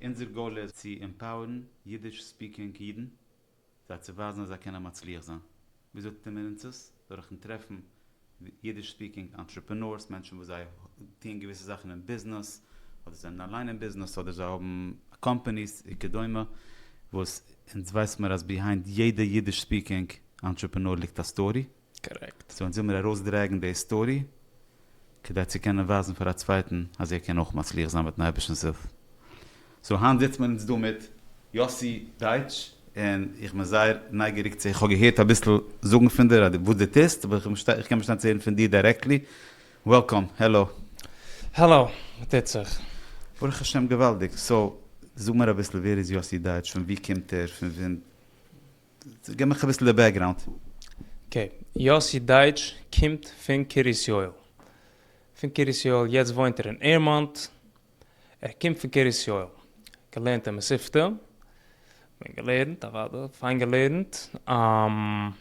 אונזער גאול איז צו עמפאוערן אידיש ספיקינג אידן, זיי צו ווייזן אז זיי קענען מצליח זיין. וויאזוי טוט מען אונז עס? דורכ'ן טרעפן אידיש ספיקינג אנטרעפענארס, מענטשן וואס זיי טוען געוויסע זאכן אין ביזנעס, אדער זענען אליין אין ביזנעס, אדער זיי האבן קאמפאניס וכדומה, וואס אונז ווייסמער אז ביהיינד יעדע אידיש ספיקינג אנטרעפענאר ליגט א סטארי. קארעקט. סאו אונז וויל מיר ארויסדרעגן די סטארי כדי צו קענען ווייזן פאר א צווייטן אז ער קען אויך מצליח זיין מיטן אייבערשטנ'ס הילף. סאו היינט זיצט מען אונז דא מיט יאסי דייטש און איך בין זייער נייגעריג צו איך האב געהערט אביסל זאגן פון דיר וואס דו טוסט אבער איך בין איך קען באשטיין צו הערן פון דיר דיירעקטלי. וועלקאם. העלא. העלא. וואס טוט זיך? ברוך השם געוואלדיג. סאו זאג מיר אביסל ווער איז יאסי דייטש? פון וואו קומט ער? פון ווען? געב מיך אביסל די בעקגראונד. אקעי, יאסי דייטש קומט פון קרית יואל, פון קרית יואל, יעצט וואוינט ער אין עירמאנט, ער קומט פון קרית יואל, געלערנט אין מספתא, פיין געלערנט, אוודאי, פיין געלערנט, און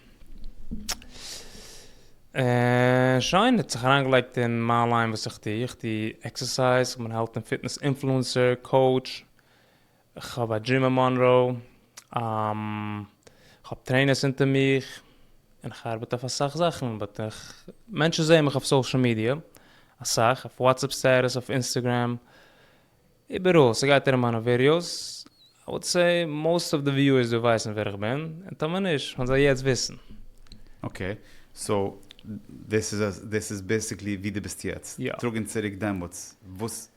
שוין, ער האט זיך אריינגעלייגט אין מיין ליין וואס איך טו, איך טו עקסערסייז, איך בין העלט און פיטנעס אינפלוענסער, קאוטש, כ'האב א דריעם אין מאנראו, כ'האב טרעינערס אונטער מיך, און כ'ארבעט אויף אסאך זאכן, באט איך, מענטשן זעען מיך אויף סאושעל מידיע, אסאך, אויף וואטסעפפ סטעטוס, אויף אינסטעגרעם, איבעראל, ס'גייט ארום מיינע ווידיאוס, איי וואלט סעי מאוסט אוו די וויוערס דא ווייסן ווער איך בין, און טאמער נישט, וועלן זיי יעצט וויסן. אקעי, סאו דאס איז בעסיקלי ווי דו ביסט יעצט, טראג אונז צוריק דעמאלטס, וואס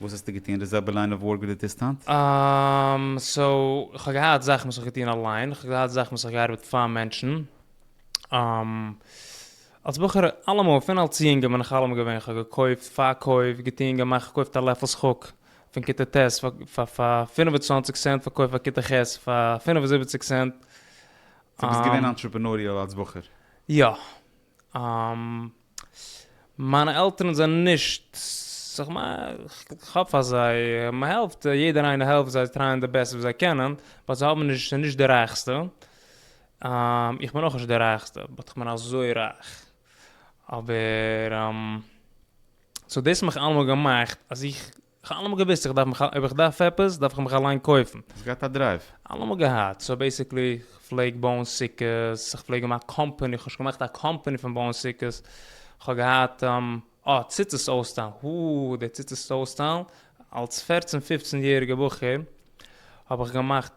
וואס האסטו געטון? די זעלבע ליין אוו ווארק ווי די טוסט היינט? אממ, סאו, כ'האב געהאט זאכן וואס כ'האב געטון אליין, כ'האב געהאט זאכן וואס כ'האב געארבעט פאר מענטשן. אממ, אלס בחור, אלעמאל, פון אלס יונגער בין איך אלעמאל געווען, כ'האב געקויפט, פארקויפט, געטון, געמאכט, געקויפט א לעפל שחוק פון כיתה ט' פאר פאר פֿינף און צוואַנציק סענט, פארקויפט פאר כיתה ח' פאר פֿינף און זיבעציק סענט. סאו ביסט געווען אנטרעפענוריעל אלס בחור? יא. מיינע עלטערן זענען נישט, איך האף אז זיי, מען העלפט, יעדער איינער העלפט זיי, זיי טרייען די בעסטע וואס זיי קענען, באט זיי האבן נישט, זענען נישט די רייכסטע, איך בין אויך נישט די רייכסטע, באט איך בין אזוי רייך, אבער, סאו דאס האט מיך אלעמאל געמאכט אז איך. איך האב אלעמאל געוויסט איך דארף מיך אויב איך דארף עפעס דארף איך מיך אליין קויפן. האסט געהאט א דרייוו? אלעמאל געהאט, סאו בעסיקלי איך פלעג בויען סוכות, איך פלעג האבן א קאמפעני, איך האב שוין געמאכט א קאמפעני פון בויען סוכות, איך האב געהאט אה ציצית אויסטיילן, האא די ציצית אויסטיילן, אלס פערצן פיפצן יעריגע בחור האב איך געמאכט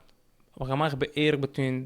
האב איך געמאכט בערך בעטווין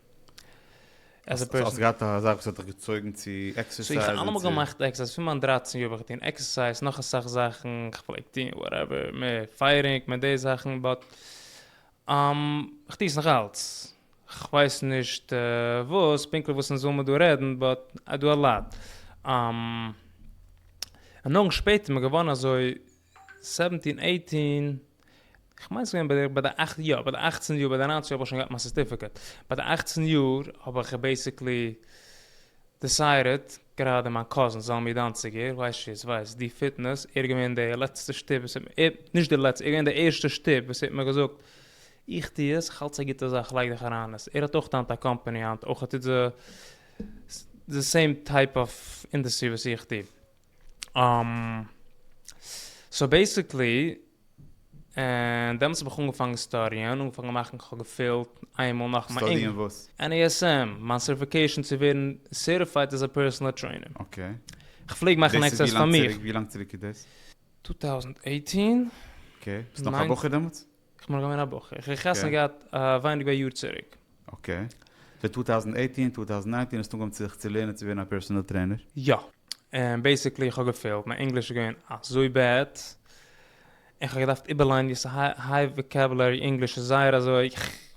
עז ע פערסאן. האסט געהאט א זאך וואס האט דיך געצויגן צו עקסערסייזן צו? איך האב אלעמאל געמאכט עקסערסייז, פון מיין דרײַצן יאר בין איך געטון עקסערסייז, נאך אסאך זאכן, איך פלעג טון וואטעווער, מער פייערינג, מער די זאכן, באט איך טוה עס נאך אלץ, כ'ווייס נישט וואס, פונקטליך וואס אונז זאל מען דא רעדן, באט איי דו א לאט. און נאכן שפעטער מ'געווארן אזוי. סעווענטין עיטין, כ'מיין ס'געווען ביי די ביי די אכט יא ביי די אכצן יאר ביי די ניינצן יאר האב איך שוין געהאט מיין סערטיפיקעט, ביי די אכצן יאר האב איך בעיסיקלי דיסיידעט, גראדע מיין קאזין זלמי דאנציגער, ווייסט שווער עס ווייסט, די פיטנעס, ער איז געווען די לעצטע שטופ וואס האט מיר, נישט די לעצטע, ער איז געווען די ערשטע שטופ וואס ער האט מיר געזאגט איך טו עס, איך האלט עס א גוטע זאך לייג דיך אריין אין עס, ער האט אויך היינט א קאמפעני היינט אויך ער טוט די סעים טייפ אוו אינדעסטרי וואס איך טו. סאו בעסיקלי דעמאלטס האב איך אנגעפאנגען סטאדיען, אנגעפאנגען מאכן, כ'האב געפילט איינמאל נאך מיין אינג. סטאדיען וואס? NASM, מיין סערטיפיקעישן צו ווערן סערטיפייד עז א פערסאנעל טרעינער. אקעי. כ'פלעג מאכן דאס איז עקסערסייז פאר ווילאנג מיך. ציריק? ווילאנג צירוק איז דאס? טו טאוזענד עיטין. אקעי. ביסט נאך א בחור דעמאלטס? איך בין נאך געווען א בחור, איך האב חתונה געהאט ווייניג ווי א יאר צוריק. אקעי. די צוויי טויזנט עיטין, צוויי טויזנט ניינטין האסט אנגעהויבן זיך צו לערנען צו ווערן א פערסאנעל טרעינער? יא. און בעיסיקלי איך האב געפעילט, מיין ענגליש איז געווען אזוי בעד, און איך האב געדארפט איבערליינען ווי ס'הייוו וואקעבולערי, ענגליש איז זייער אזוי.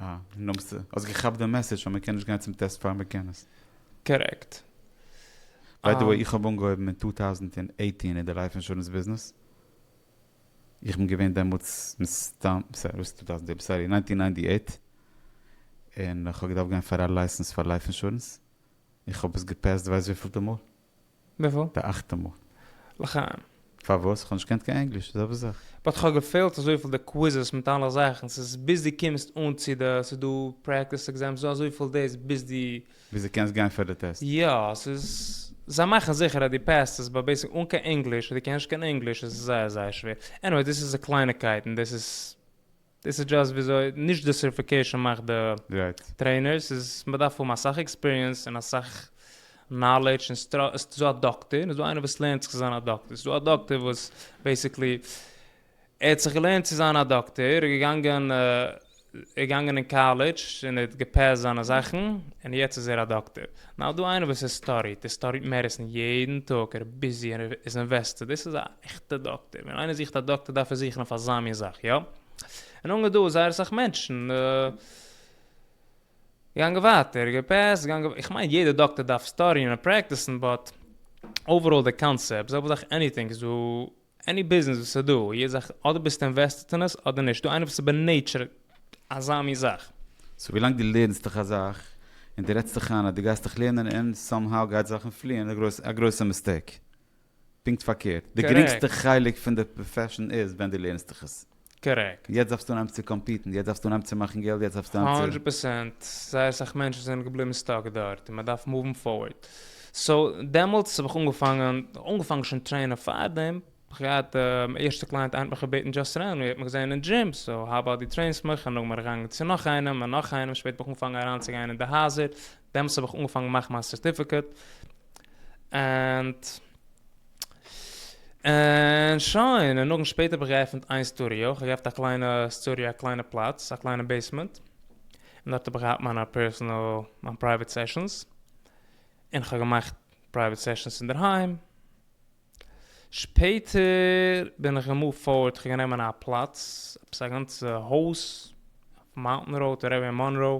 אה, נאמסט, האסט געכאפט די מעסעדזש אז מען קען נישט גיין צום טעסט פאר מען קען עס. קארעקט. ביי די וועי איך האב אנגעהויבן אין טו טאוזנט און עיטין אין די לייף אינשורענס ביזנעס, איך בין געווען דעמאלטס מסתם, סארי וואס טו טאוזנט און עיט, סארי ניינטין ניינטי עיט, און איך האב געדארפט גיין פאר א לייסענס פאר לייף אינשורענס, איך האב עס געפעסט ווייסט וויפילטע מאל. וויפיל? די אכטע מאל. לחיים. פארוואס? כ'האב נישט געקענט קיין ענגליש, זעלבע זאך. באט כ'האב געפעלט אזויפיל די קוויזעס מיט אלע זאכן, ס'איז ביז דו קומסט אן צו די, ס'איז דא פרעקטיס עקזעמס, ס'איז דא אזויפיל דאס ביז דו. ביז דו קענסט גיין פאר די טעסט. יא, ס'איז, זיי מאכן זיכער אז דו פעסט עס, באט בעיסק אן קיין ענגליש, און דו קענסט נישט קיין ענגליש, איז עס זייער זייער שווער. עניוועי, דאס איז די קלייניקייטן, דאס איז. דאס איז דזשאסט וויאזוי נישט די סערטיפיקעישאן מאכט די טרעינער, ס'איז מ'דארף האבן אסאך עקספיריענס און אסאך נאלעדזש און ס'דא א דאקטער און ס'דא איינער וואס לערנט זיך צו זיין א דאקטער, ס'דא א דאקטער וואס בעיסיקלי ער האט זיך געלערנט צו זיין א דאקטער, ער איז געגאנגען ער געגאנגען אין קאלעדזש און ער האט געפעסט זיינע זאכן און יעצט איז ער א דאקטער. נאו דא איינער וואס ער סטאדיט, ער סטאדיט מעדיסין יעדן טאג, ער איז ביזי און ער איז אינוועסטעד, דאס איז א עכטע דאקטער. ווען איינער זוכט א דאקטער דארף ער זוכן אויף אזא מין זאך, יא? און אנגעהן דא איז זייער אסאך מענטשן. געגאנגען ווייטער, געפעסט, געגאנגען ווייטער. איך מיין יעדער דאקטער דארף סטאדיען און פרעקטיסן, באט אוועראל די קאנצעפט, זעלבע זאך עניטינג איז דא, עני ביזנעס וואס איז דא, יעדע זאך אדער ביסטו אינוועסטעט אין עס אדער נישט. איז דא איינער וואס איז בענעטשער אזא מין זאך? סאו ווילאנג דו לערנסט דיך א זאך און דו רעדסט דיך איין אז דו גייסט דיך לערנען און סאם האו גייט זאכן פליען איז א גרויסע מיסטעיק. פונקט פארקערט, די גרינגסטע חלק פון די פראפעשן איז ווען דו לערנסט דיך עס. קארעקט. יעצט דארפסטו אנהייבן צו קאמפיטן, יעצט דארפסטו אנהייבן צו מאכן געלט, יעצט דארפסטו אנהייבן צו. הונדרעט פערסענט, זייער אסאך מענטשן זענען געבליבן סטאק דארט און מען דארף מאוון פארווארד. סאו, דעמאלטס האב איך אנגעפאנגען, אנגעפאנגען שוין טרעינען פארדעם, כ'האב געהאט א ערשטע קלייענט איינער האט מיך געבעטן דזשאסט רענדלי, ער האט מיך געזען אין דזשים, סאו האו אבאוט דו טרעינס מיך, און נאכדעם בין איך געגאנגען צו נאך איינעם און נאך איינעם, שפעטער האב איך אנגעפאנגען אריינצוגיין אין די הייזער, דעמאלטס האב איך אנגעפאנגען מאכן מיין סערטיפיקעט. ענד ענד שוין, און נאכדעם שפעטער האב איך געעפענט איין סטודיאו, איך האב געהאפט א קליינע סטודיאו א קליינע פלאץ, א קליינע בעיסמענט, און דארט האב איך געהאט מיינע פערסענעל, מיין פרייוועט סעשאנס, און איך האב געמאכט פרייוועט סעשאנס אינדערהיים, שפעטער בין איך געמופט פארט, איך האב גענומען א פלאץ, עפעס א גאנצע הויז, אויף מאונטען ראוד, ארום אין מאנרא,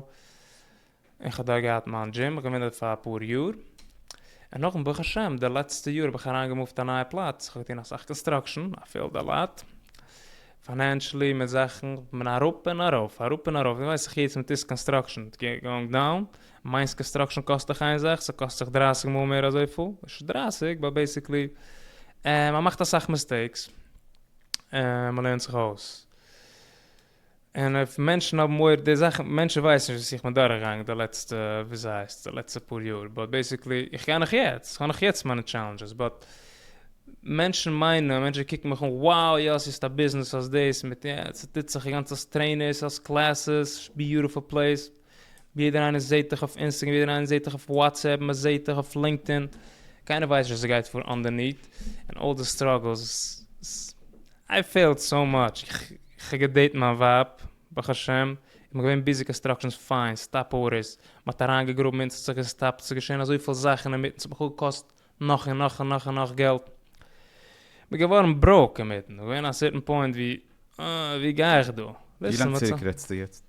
איך האב דארט געהאט מיין דזשים, מיך געמוטערט פאר אפאר יאר, און נאכדעם ברוך השם די לעצטע יאר האב איך אריין געמופט א נייע פלאץ, איך האב געטון אסאך קאנסטראקשען, א פיעלד א לאט, פיינענשעלי מיט זאכן, כ'בין אראפ און ארויף, אראפ און ארויף, ווי ווייס איך יעצט מיט איסט קאנסטראקשען, איטס גאוינג דאון, מיינס קאנסטראקשען קאסט דאך איין זאך, ס'קאסט זיך דרייסיג מאל מער אזויפיל, נישט דרייסיג, באט בעיסיקלי, און מ'מאכט אסאך מיסטעיקס, און מ'לערנט זיך אויס. און אויף מענטשן האבן מורא די זאך מענטשן ווייסן נישט וואס איך בין דורכגעגאנגען די לעצטע ווי עס הייסט די לעצטע פאר יאר באט בעסיקלי איך גיי נאך יעצט איך האב נאך יעצט מיינע טשעלענדזשעס באט מענטשן מיינען מענטשן קוקן מיך אן wow יאסי האסט א ביזנעס האסט דאס מיט יא ס'טוט זיך די גאנצע סטרעינערס האסט קלעסעס ביוטיפול פלעיס. ווי יעדער איינער זעהט דיך אויף אינסטעגרעם ווי יעדער איינער זעהט דיך אויף וואטסעפפ מען זעהט דיך אויף לינקדאין קיינער ווייסט נישט וואס גייט פאר אנדערניט און אלל די סטראגעלס איי פעלט סאו מאטש כ'האב געדעיט מיין ווייב ברוך השם און מ'געווען ביזי קאנסטראקשען פיין סטאפ ארדערס מ'האט אריין געגראבן אונז ס'האט זיך געסטאפט ס'איז געשעהן אזויפיל זאכן אינמיטן ס'האט בכלל געקאסט נאך און נאך און נאך און נאך געלט מ'איז געווארן בראוק אינמיטן ס'איז געווען א סערטען פוינט ווי אה ווי גיי איך דא? ווי לאנג צוריק רעדסטו יעצט?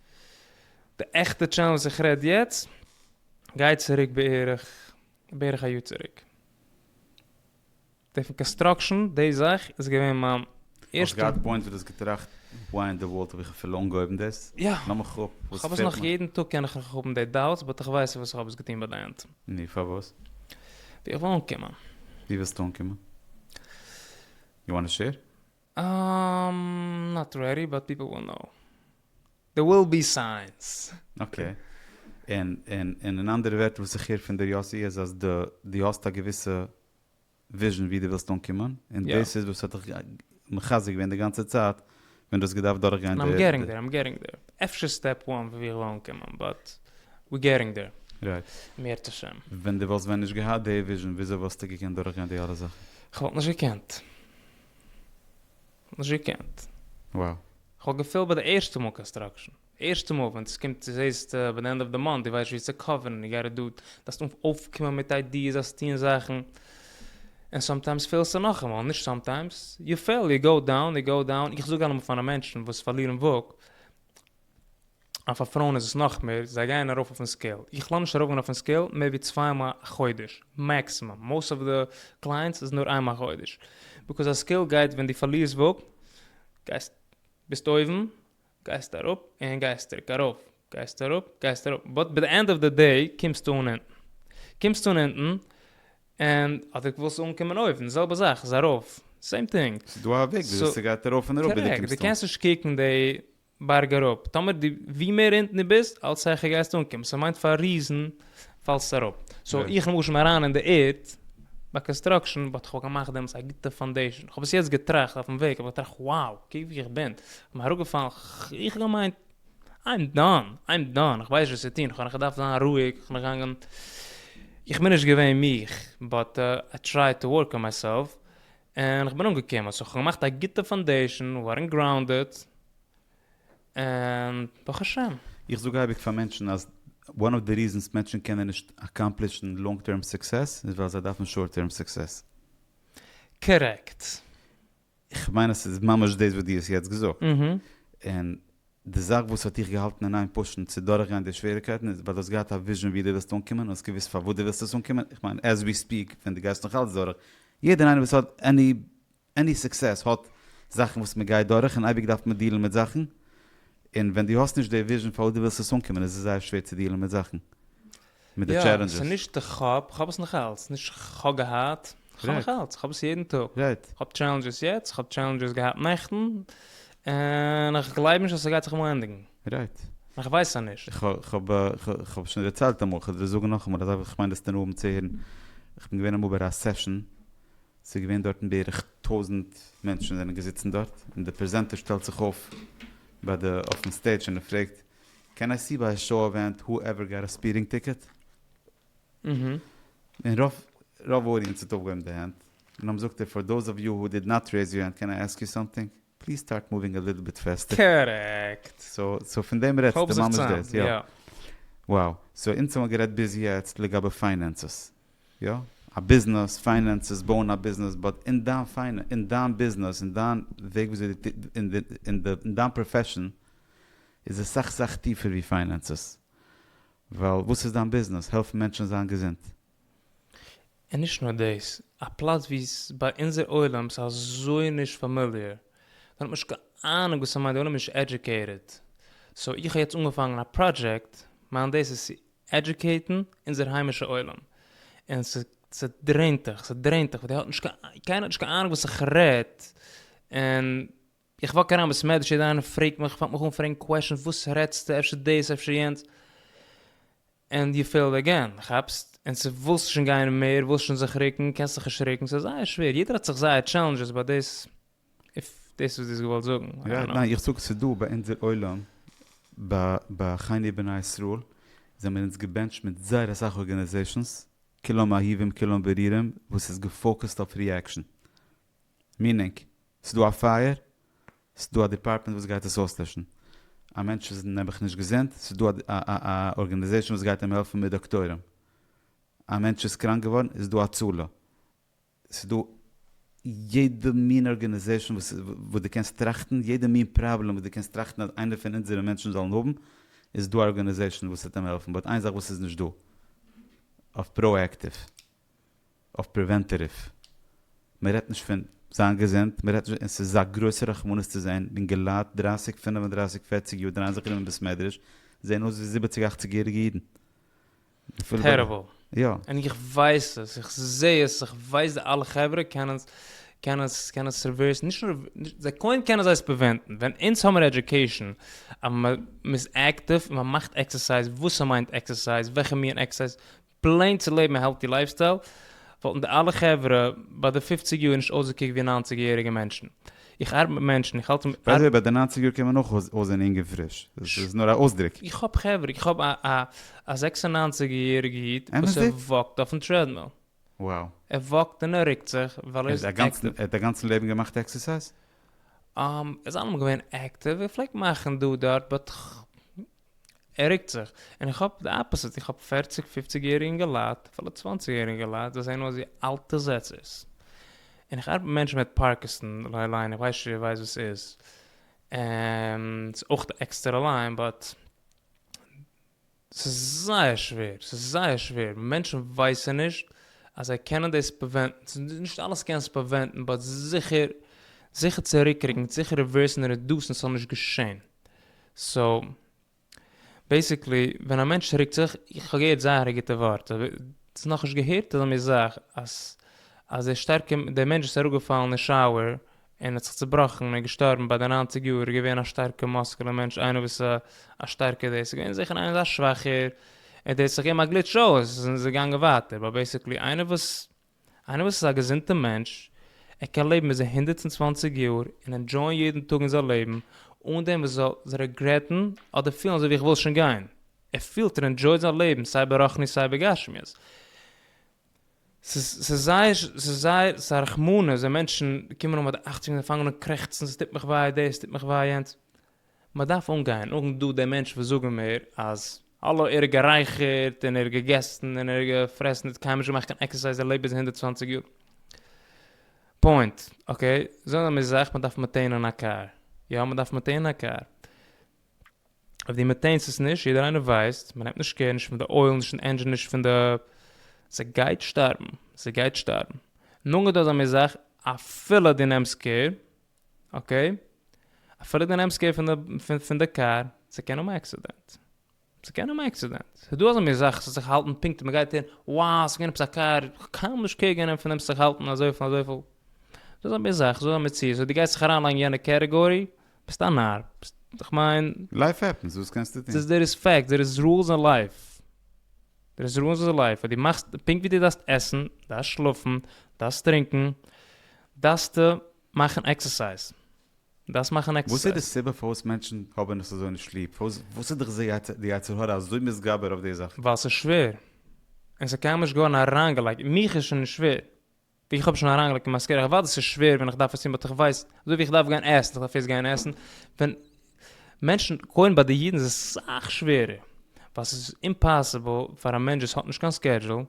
די עכטע טשענעל וואס איך רעד יעצט גייט צוריק בערך בערך א יאר צוריק. די פון קאנסטראקשען די זאך איז געווען מיין ערשטע. האסט געהאט פוינטס וואס די האסט געטראכט וואו אין די ווארלד האב איך אפילו אנגעהויבן דאס? יא. לאמיר איך כאפ וואס איך האב עס נאך יעדן טאג קען איך נאך האבן די דאוטס באט איך ווייס וואס איך האב עס געטון ביי די ענד. נו פארוואס? ווי איך וויל אנקומען. ווי ווילסטו אנקומען? יו וואנט טו שעיר? אהמ נאט רעדי באט פיפל וויל נאו. דער וויל בי סיינס. אקעי. און און און אין אנדערע ווערטער וואס איך הער פון דיר יאסי איז אז דו דו האסט א געוויסע וויזשען ווי דו ווילסט אנקומען און יא. דאס איז וואס האט דיך מחזק געווען די גאנצע צייט ווען דו האסט געדארפט דורכגיין און איים די געטינג דער איים געטינג דער. אפשר סטעפ וואן וואו איך וויל אנקומען באט ווי געטינג דער. רייט. מיראת השם. ווען דו וואלסט ווען נישט געהאט די וויזשען וויאזוי וואלסטו געקענט דורכגיין די אלע זאכן? כ'וואלט נישט געקענט. נישט געקענט. וואו? כ'האב געפעלט ביי די ערשטע מאל קאנסטראקשען, ערשטע מאל ווען עס קומט צו זעהסט ביי די ענד אוו די מאנט די ווייסט ווי צו קאווערן די גאט איט דא דארפסט אויפקומען מיט איידיעס דארפסט טוהן זאכן און סאמטיימס פעלסטו נאכאמאל נישט סאמטיימס יו פעל יו גאו דאון יו גאו דאון איך זאג אלעמאל פאר די מענטשן וואס פארלירן וואג אז פאר פרויען איז עס נאך מער, זיי גייען ארויף אויפן סקעיל, איך לאמיר נישט ארויפגיין אויפן סקעיל מער ווי צוויי מאל א חודש מעקסימום, מאוסט אוו די קלייענטס איז נאר איינמאל א חודש, ביקאוז א סקעיל גייט ווען דו פארלירסט וואג, גייסט, ביסט אויבן, גייסט אראפ, און גייסט צוריק ארויף, גייסט אראפ, גייסט אראפ, באט ביי די ענד אוו די דעי קומסטו אן אונטן, קומסטו אן אונטן, און אדער ווילסטו אנקומען אויבן, די זעלבע זאך איז ארויף, סעים טינג. ס'איז דא א וועג וויאזוי ס'גייט ארויף און אראפ ביז דו קומסט אן. קארעקט, דו קענסט נישט קוקן די. בארג אראפ, טאמער די ווי מער אונטן די ביסט אלץ העכער גייסטו אנקומען, סאו מיינט פאר ריזן פאלסטו אראפ, סאו איך למשל בין אריין אין די ערד ביי קאנסטראקשען באט כ'האב געמאכט דעמאלס א גוטע פאנדעישען, כ'האב עס יעצט געטראכט אויפן וועג, כ'האב געטראכט wow קוק ווי איך בין, כ'בין אראפגעפאלן, איך האב געמיינט איים דאן, איים דאן, כ'ווייס נישט וואס צו טון, כ'האב נאך געדארפט זיין רואיג, כ'בין געגאנגען, איך בין נישט געווען מיך באט איי טרייד טו ווארק אן מיי סעלף, און כ'בין אנגעקומען, סאו כ'האב געמאכט א גוטע פאנדעישן, ווערן גראונדעד, און ברוך השם. איך זאג אייביג פאר מענטשן אז one of the reasons מענטשן קענען נישט אקאמפלישן לאנג טערם סוקסעס איז ווייל זיי דארפן שארט טערם סוקסעס. קארעקט. איך מיין אז ס'איז ממש דאס וואס דו האסט יעצט געזאגט. און די זאך וואס האט דיך געהאלטן אין איין פאשן צו דורכגיין די שוועריקייטן איז ווייל דו האסט געהאט א וויזשען ווי דו ווילסט אנקומען און האסט געוואוסט פארוואס דו ווילסט עס אנקומען, איך מיין עז ווי ספיעק ווען דו גייסט נאך אלץ דורך, יעדער איינער וואס האט עני עני סוקסעס האט זאכן וואס מען גייט דורך און אייביג דארף מען דילן מיט זאכן, און ווען דו האסט נישט די וויזשען פארוואס דו ווילסט עס אנקומען איז עס זייער שווער צו דילן מיט זאכן. מיט די טשעלענדזשעס. יא, ס'נישט כ'האב, כ'האב עס נאכאלץ, נישט כ'האב געהאט, כ'האב נאכאלץ, כ'האב עס יעדן טאג. כ'האב טשעלענדזשעס יעצט, כ'האב טשעלענדזשעס געהאט נעכטן, און איך גלייב נישט אז ס'גייט זיך אמאל ענדיגן. רייט. איך ווייס אז נישט. כ'האב שוין דערציילט אמאל, כ'וועל דיר זאגן נאכאמאל, אזוי ווי כ'מיין דאס דערנאך האבן צו הערן, כ'בין געווען אמאל ביי א סעשאן, ס'איז געווען דארטן בערך טויזנט מענטשן זענען געזיצן דארט, און די פרעזענטער שטעלט זיך אויף ביי די, אויפן סטעידזש און ער פרעגט, קען איי סי ביי א שאו עווענט הו עווער גאט א ספידינג טיקעט? און רוב רוב אודיענס האט אויפגעהויבן די הענט, און האבן זאגט ער פאר דאוז אוו יו הו דיד נאט רעיז יור הענט קען איי עסק יו סאמטינג? פליז סטארט מאווינג א ליטל ביט פעסטער. קארעקט. סאו פון דעם רעדסטו? כ'האב זיך ממש צוזאם, דאס? יא. יא. וואו. סאו אונז האמער גערעדט ביז יעצט לגבי פיינענסעס. יא. א ביזנעס, פיינענסעס, בויען א ביזנעס, באט אין דיין פיינע, אין דיין ביזנעס, אין דיין וועג וויאזוי די, אין דיין פראפעשן. איז עס סאך סאך טיפער ווי פיינענסעס, ווייל וואס איז דיין ביזנעס? העלפן מענטשן זיין געזונט? און נישט נאר דאס, א פלאץ ווי עס איז ביי אונזער עולם ס'איז אזוי נישט פאמיליער, מען האט נישט קיין אהנונג וואס ס'מיינט, די עולם איז נישט עדזשוקעיטעד, סאו איך האב יעצט אנגעפאנגן א פראדזשעקט, מיין דאס איז צו עדזשוקעיטן אונזער היימישע עולם, און ס'דרעינט דיך, ס'דרעינט דיך, ווייל די האט נישט קיין, קיינער האט נישט קיין אהנונג וואס איך רעד, און איך וואק אריין בסמעדרש יעדער איינער פרעגט מיך פאנגט מיך אן פרעגן קוועשענס וואס רעדסטו אפשר דאס אפשר יענץ ענד יו פעילד עגעין כאפסט און צו ווילסט שוין גיין מער ווילסט שוין זיך ריקן קענסט זיך נישט ריקן סאיז זייער שווער יעדער האט זיך זייער טשעלענדזשעס באט דאס איף דאס וואס דו האסט געוואלט זאגן איי דאנט נאו. איך זאג ס'דא ביי אונזער עולם ביי חייני בני ישראל זעמיר אונז געבענטשט מיט זייער אסאך ארגענעזעישאנס כולם אהובים כולם ברירים וואס איז געפאוקעסט אויף ריעקשאן. מינינג, ס'דא א פייער, ס'דא א דיפארטמענט וואס גייט עס אויסלעשן. א מענטש איז נעבעך נישט געזונט, ס'דא א ארגענעזעישן וואס גייט אים העלפן מיט דאקטוירים. א מענטש איז קראנק געווארן, איז דא הצלה. ס'דא יעדע מין ארגענעזעישן וואס דו קענסט טראכטן, יעדע מין פראבלעם וואס דו קענסט טראכטן אז איינער פון אונזערע מענטשן זאלן האבן, איז דא א ארגענעזעישן וואס וועט אים העלפן. באט איין זאך וואס איז נישט דא אויף פראעקטיוו. אויף פריווענטעטיוו, מען רעדט נישט פון זיין געזונט, מען רעדט נישט, און ס'איז א גרויסע רחמנות צו זען אינגעלייט דרייסיג פינף און דרייסיג פערציג יאר דרייען זיך ארום אין בית מדרש, זען אויס ווי זיבעציג אכציג יעריגע אידן. טעריבל. יא. און איך ווייס עס, איך זע עס, איך ווייס די אלע חברה קענען עס, קענען עס, קענען עס ריווערסן, נישט נאר ריווערסן, זיי קוים קענען זיי עס פריווענטן, ווען אונז האמיר עדיוקעישן, אז מען איז עקטיוו, און מען מאכט עקסערסייז, וואס ס'מיינט עקסערסייז, וועלכע מין עקסערסייז, פלעין צו לעבן א העלטי לייפסטייל, וואלטן די אלע חברה ביי די פופציג יאר נישט אויסגעקוקט ווי ניינציג יעריגע מענטשן. איך ארבעט מיט מענטשן, איך האלט מיט. ביי די וועי, ביי די ניינציג יאר קען מען אויך אויסזען אינג און פריש. עס איז נאר א אויסדרוק. איך האב חברה, איך האב א זעקס און ניינציג יעריגע איד וואס ער וואקט אויפן טרעדמיל. וואו? ער וואקט און ער רוקט זיך ווייל ער איז עקטיוו. ער האט א גאנצן לעבן געמאכט עקסערסייז? עס זענען אמאל געווען עקטיוו, ער פלעגט מאכן דא דארט, באט ער רוקט זיך, און איך האב די אפעסיט, איך האב פערציג פופציג יעריגע אינגעלייט, אפילו צוואנציג יעריגע אינגעלייט, זיי זעהן אויס ווי אלטע זעצערס, און איך ארבעט מיט מענטשן מיט פארקיסאן, לייען איך ווייס נישט איר ווייסט וואס ס'איז, און ס'איז אויך א עקסטערע ליין, באט ס'איז זייער שווער, ס'איז זייער שווער, מענטשן ווייסען נישט אז זיי קענען דאס פריווענטן, נישט אלעס קענסטו פריווענטן, באט זיכער, זיכער צוריקרוקן, זיכער ריווערסן רעדוסן ס'זאל נישט געשעהן. סאו בעסיקלי ווען א מענטש רוקט זיך, איך האב געהערט זייער א גוטע ווארט, אבער צו נאכנישט געהערט אזא מין זאך אז אז דער שטארקע דער מענטש וואס איז אראפגעפאלן אין שאוער און האט זיך צובראכן און געשטארבן ביי די ניינציג יאר איז געווען א שטארקע מאסקולע מענטש איינער וואס א א שטארקע דעס איז געווען זיכער איינער אזא שוואכער און דעס האט זיך געגעבן א גליטש אויס און איז געגאנגען ווייטער באט בעסיקלי איינער וואס איינער וואס איז א געזונטע מענטש, ער קען לעבן ביז זיין הונדערט און צוואַנציק יאר און ענדזשויען יעדן טאג אין זיין לעבן אן דעם וואס זאל זיך רעגרעטן אדער פילן אזוי ווי איך וויל שוין גיין, ער פילט און ענדזשויט זיין לעבן סיי ברחנית סיי בגשמיות. ס'איז זייער ס'איז זייער ס'איז א רחמנות ווען מענטשן קומען אן ביי די אכציג און זיי פאנגען אן קרעכצן ס'טוט מיך וויי דאס ס'טוט מיך וויי יענץ, מען דארף אנגיין אן דא די מענטשן וואס זאגן מיר אז האלא ער האט גערייכערט און ער האט געגעסן און ער האט געפרעסן ער האט קיינמאל נישט געמאכט קיין עקסערסייז ער לעבט ביז הונדערט צוואַנציק יאר פוינט אקעי זאגן זיי מיר זאך מען דארף מעטעינען א קאר יא מען דארף מעטעינען א קאר אויב די מעטעינסט עס נישט יעדער איינער ווייסט מען נעמט נישט קער נישט פון די אויל נישט פון די ענדזשין נישט פון די זי גייט שטארבן זי גייט שטארבן נאכדעם זאגן זיי מיר זאך אפילו די נעמסט קער אקעי, אפילו די נעמסט קעיר פון די פון די קאר, ס'קען האבן א עקסידענט, ס'קען האבן א עקסידענט, ס'דא אזאנע זאכן ס'זאל זיך האלטן פונקט און מ'גייט אהן, wow ס'געווען עפעס א קאר, כ'קען נישט קעיר גענעמט פון דעם ס'זאל זיך האלטן אזויפיל און אזויפיל, ס'דא אזא זאך, ס'דא אזא מציאות, אויב דו גייסט זיך אריינלייגן אין יענע קעטעגארי, ביסט א נאר, כ'מיין. לייף העפענס, וואס קענסטו טון? ס'איז דער איז פעקט, דער איז רולס אין לייף, דער איז רולס אין לייף, אויב דו מאכסט, פונקט ווי דו דארפסט עסן, דארפסט שלאפן, דארפסט טרינקען, דארפסטו מאכן עקסערסייז. דארפסט מאכן עקסערסייז. וואס איז די סיבה פארוואס מענטשן האבן עס אזוי נישט ליב? וואס איז דיך די יצר הרע אזוי מתגבר אויף די זאך? ווייל ס'איז שווער. און ס'איז קיינמאל נישט געווארן אריינגעלייגט. מיך איז שוין נישט שווער. ווי איך האב שוין אריינגעלייגט אין מיין סקעדזשול. כ'ווייס אז ס'איז שווער ווען איך דארף עס טון באט איך ווייס. אזוי ווי איך דארף גיין עסן. איך דארף ערשט גיין עסן. ווען מענטשן קודם ביי די אידן איז עס סאך שווערער ווייל ס'איז אימפאסיבל פאר א מענטש וואס האט נישט קיין סקעדזשול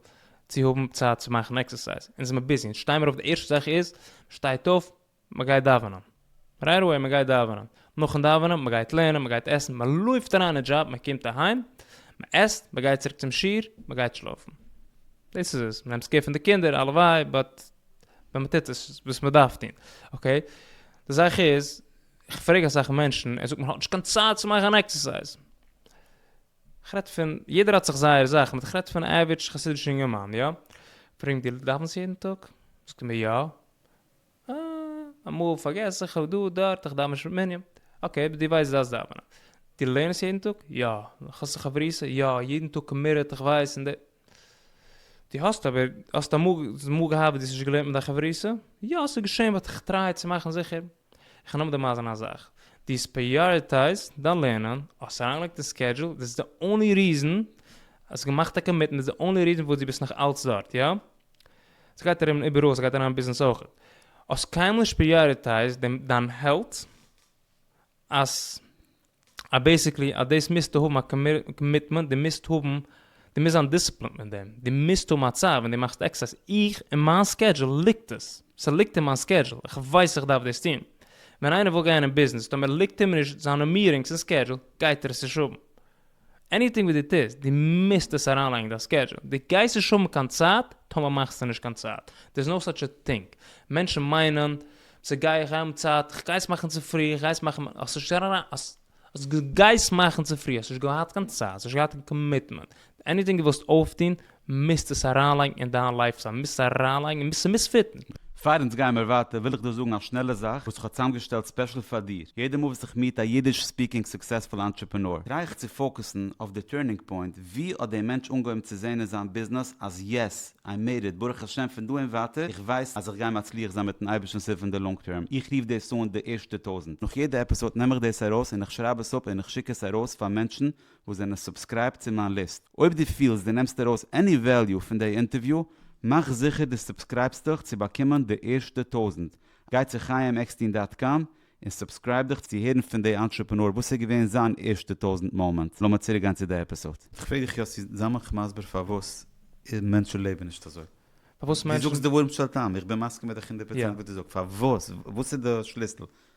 צו האבן צייט צו מאכן עקסערסייז, אונז זעמער ביזי, אונז שטיי מיר אויף די ערשטע זאך איז מ'שטייט אויף מ'גייט דאווענען, רייט עוועי מ'גייט דאווענען, נאכן דאווענען מ'גייט לערנען מ'גייט עסן מ'לויפט אריין אין דזשאב מ'קומט אהיים מ'עסט מ'גייט צוריק צום שיעור מ'גייט שלאפן, דאס איז עס, מ'נעמט קער פון די קינדער הלוואי באט ווען מ'טוט עס וואס מ'דארף טון, אקעי, די זאך איז איך פרעג אסאך מענטשן, ער זאגט מען האט נישט קיין צייט צו מאכן עקסערסייז. איך רעד פון, יעדער האט זיך זייער זאכן, באט איך רעד פון עווערעדזש חסידישע אינגערמאן, יא? פרעגן די דאווענסט יעדן טאג? זאגט ער מיר יא. אה, אמאל פארגעס איך, דא דארט, איך דאווען נישט מנין. אקעי, באט דו ווייסט דו דארפסט דאווענען. דו לערנסט יעדן טאג? יא. האסט א חברותא? יא, יעדן טאג קאמיטעד, איך ווייס, און די. דו האסט אבער, האסט אמאל, האסט אמאל געהאט וואס דו האסט נישט געלערנט מיט דיין חברותא? יא, ס'איז געשען באט איך טריי צו מאכן זיכער. איך נעם דעם אייזערנע א זאך. דו האסט פריאריטייזד דיין לערנען, האסט אריינגעלייגט אין סקעדזשול, דאס איז די אנלי ריזען, האסט געמאכט א קאמיטמענט, דאס איז די אנלי ריזען פארוואס דו ביסט נאך אלץ דארט, יא? עס גייט ארום איבעראל, ס'גייט אריין אין ביזנעס אויך. האסט קיינמאל נישט פריאריטייזד דעם, דיין העלט. אז אז בעסיקלי אז דאס מוזטו האבן א קאמיטמענט, דו מוזט האבן, דו מוזט זיין דיסציפלינט מיט דעם, דו מוזט האבן א צייט ווען דו מאכסט עקסערסייז, איך אין מיין סקעדזשול ליגט עס, ס'ליגט אין מיין סקעדזשול, איך ווייס איך דארף דאס טון, ווען איינער וויל גיין אין ביזנעס, טאמער ליגט אים נישט זיינע מירינגס אין סקעדזשול, גייט ער עס נישט האבן. עניטינג וואס דו טוסט, דו מוזט עס אריינלייגן אין דיין סקעדזשול, דו גייסט נישט האבן קיין צייט, טאמער מאכסטו נישט קיין צייט, דער איז נאו סאטש א טינג, מענטשן מיינען, צו גיי איך האבן צייט, איך גיי עס מאכן צופרי, איך גיי עס מאכן, האסט נישט אריין, האסט, אז דו גייסט מאכן צופרי, האסט נישט געהאט קיין צייט, האסט נישט געהאט קיין קאמיטמענט, עניטינג דו ווילסט אויפטון, מוזט עס אריינלייגן אין דיין לייף סטייל, מוזט עס אריינלייגן און מוזט עס פיטן. פאר אונז גייען מיר ווייטער וויל איך דיר זאגן א שנעלע זאך וואס איך האב צוזאמגעשטעלט ספעשל פאר דיר, יעדע מאל וואס איך מיעט א אידיש ספיקינג סוקסעספול אנטרעפענאר טריי איך צו פאוקעסן אויף די טורנינג פוינט, ווי האט דער מענטש אנגעהויבן צו זעהן אין זיין ביזנעס אז יעס, איי מעיד איט, ברוך השם פון דא און ווייטער איך ווייס אז איך גיי מצליח זיין מיטן אייבערשטנ'ס הילף אין די לאנג טערם, איך רוף דאס אן די ערשטע טויזנט. נאך יעדע עפיסאד נעם איך דאס ארויס און איך שרייב עס אפ און איך שיק עס ארויס פאר מענטשן וואס זענען סובסקרייבט צו מיין ליסט. אויב דו פילסט דו נעמסט ארויס עני וועליו פון די אינטערוויו, מאך זיכער דו סובסקרייבסט דיך צו באקומען די ערשטע טויזנט. גיי צו חיים עקסטין דאט קאם און סובסקרייב דיך צו הערן פון די אנטרעפענאר וואס איז געווען זיין ערשטע טויזנט מאמענט. לאמיר צוריק גיין צו די עפיסאד. כ'פרעג דיך יאסי, זיי מיך מסביר פארוואס מענטשן לעבן נישט אזוי. פארוואס מענטשן. דו זאגסט דברים של טעם, איך בין מסכים מיט דיך הונדערט פראצענט וואס דו זאגסט, פארוואס? וואס איז די שליסל?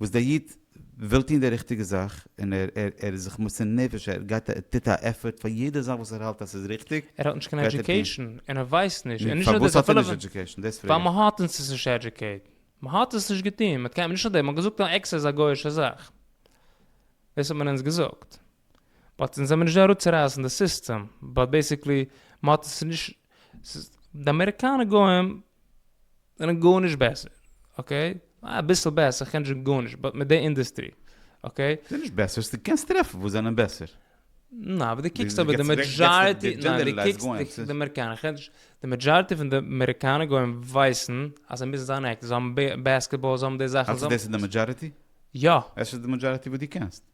וואס דער איד וויל טון די ריכטיגע זאך, און ער איז זיך מוסר נפש, ער גייט ער טוט א עפארט פאר יעדע זאך וואס ער האלט אז ס'איז ריכטיג, ער האט נישט קיין עדיוקעישאן און ער ווייסט נישט, און נישט נאר דאס אפילו ווייל מען האט אונז עס נישט עדיוקעיט, מען האט עס נישט געטון, מען קען נישט אדער מען האט געזאגט אז עקס איז א גוי'אישע זאך, דאס האט מען אונז געזאגט, באט אונז זעמיר נישט דא אראפצורייסן די סיסטעם, באט בעיסיקלי מען האט עס נישט, די אמעריקאנע גוים זענען גארנישט בעסער, אקעי? אביסל בעסער, איך קען נישט זאגן גארנישט, באט מיט די אינדעסטרי, אקעי? זענען נישט בעסער, ס'איז, קענסט טרעפן וואס זענען בעסער. ניין, אבער דו קוקסט אבער די מעדזשאריטי, ניין, דו קוקסט די אמעריקאנער, איך רעד נישט, די מעדזשאריטי פון די אמעריקאנער גוים ווייסן אז זיי מוזן זיין עקסטער, זיי האבן בעסקעטבאל, זיי האבן די זאכן, זיי האבן. האלסטו דאס איז די מעדזשאריטי? יא. עס איז די מעדזשאריטי וואס דו קענסט.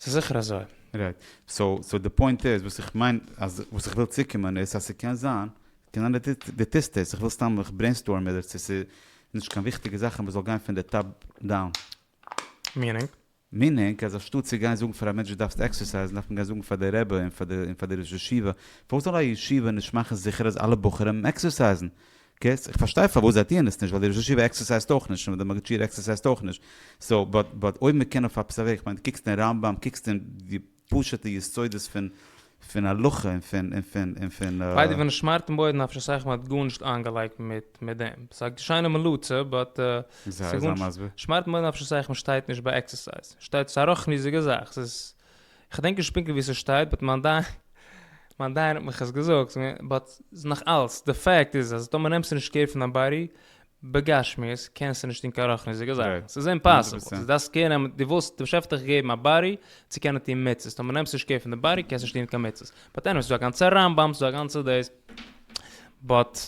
ס'איז זיכער אזוי. רייט. סאו, סאו די פוינט איז, וואס איך מיין, אז וואס איך וויל צוקומען איז, אז ס'קען זיין, קען זיין דו דו טוסט עס, איך וויל סתם, איך ברעינסטארם איבער צו ס'איז נישט קיין וויכטיגע זאכן וואס זאל גיין פון די טאפ דאון. מיענינג? מיענינג, אז אנשטאט צו גיין זאגן פאר א מענטש דו דארפסט עקסערסייזן, דארף מען גיין זאגן פאר די רבי און פאר די און פאר די ראש ישיבה, פארוואס זאל א ישיבה נישט מאכן זיכער אז אלע בחורים עקסערסייזן? קעיס, איך פארשטיי פארוואס זיי טוען עס נישט, ווייל די ראש ישיבה עקסערסייזט אויך נישט, און די מגיד שיעור עקסערסייזט אויך נישט, סאו, באט, באט אויב מ'קען אויף א פ ס א וועג, כ'מיין דו קוקסט אין רמב ם, קוקסט אין די פשוט'ע יסודות פון, פון הלכה און פון, און פון, און פון. ליידער ווען עס שמארט אין בוידן האב איך נישט סאך מיט גארנישט איינגעלייגט מיט מיט דעם. ס'איז א שיינע מליצה באט ס'איז גארנישט. שמארט אין בוידן האב איך נישט סאך מיט שטייט נישט ביי עקסערסייז. שטייט ס'איז א רחניות'דיגע זאך. ס'איז. כ'דענק נישט פונקטליך וואו ס'שטייט באט מיין דיין מיין דיין האט מיך עס געזאגט באט נאכאלץ די פאקט איז אז טאמער נעמסטו נישט קעיר פון דיין באדי בגשמיות קענסטו נישט טון קיין רחניות'דיגע זאכן ס'איז אימפאסיבל דו דארפסט קעיר נעמען דו ווילסט דער באשעפער האט דיך געגעבן א באדי צו קענען טון מצוות טאמער נעמסטו נישט קעיר פון די באדי קענסטו נישט טון קיין מצוות באט עניוועי ס'איז דא א גאנצע רמב ם ס'איז דא א גאנצע דאס באט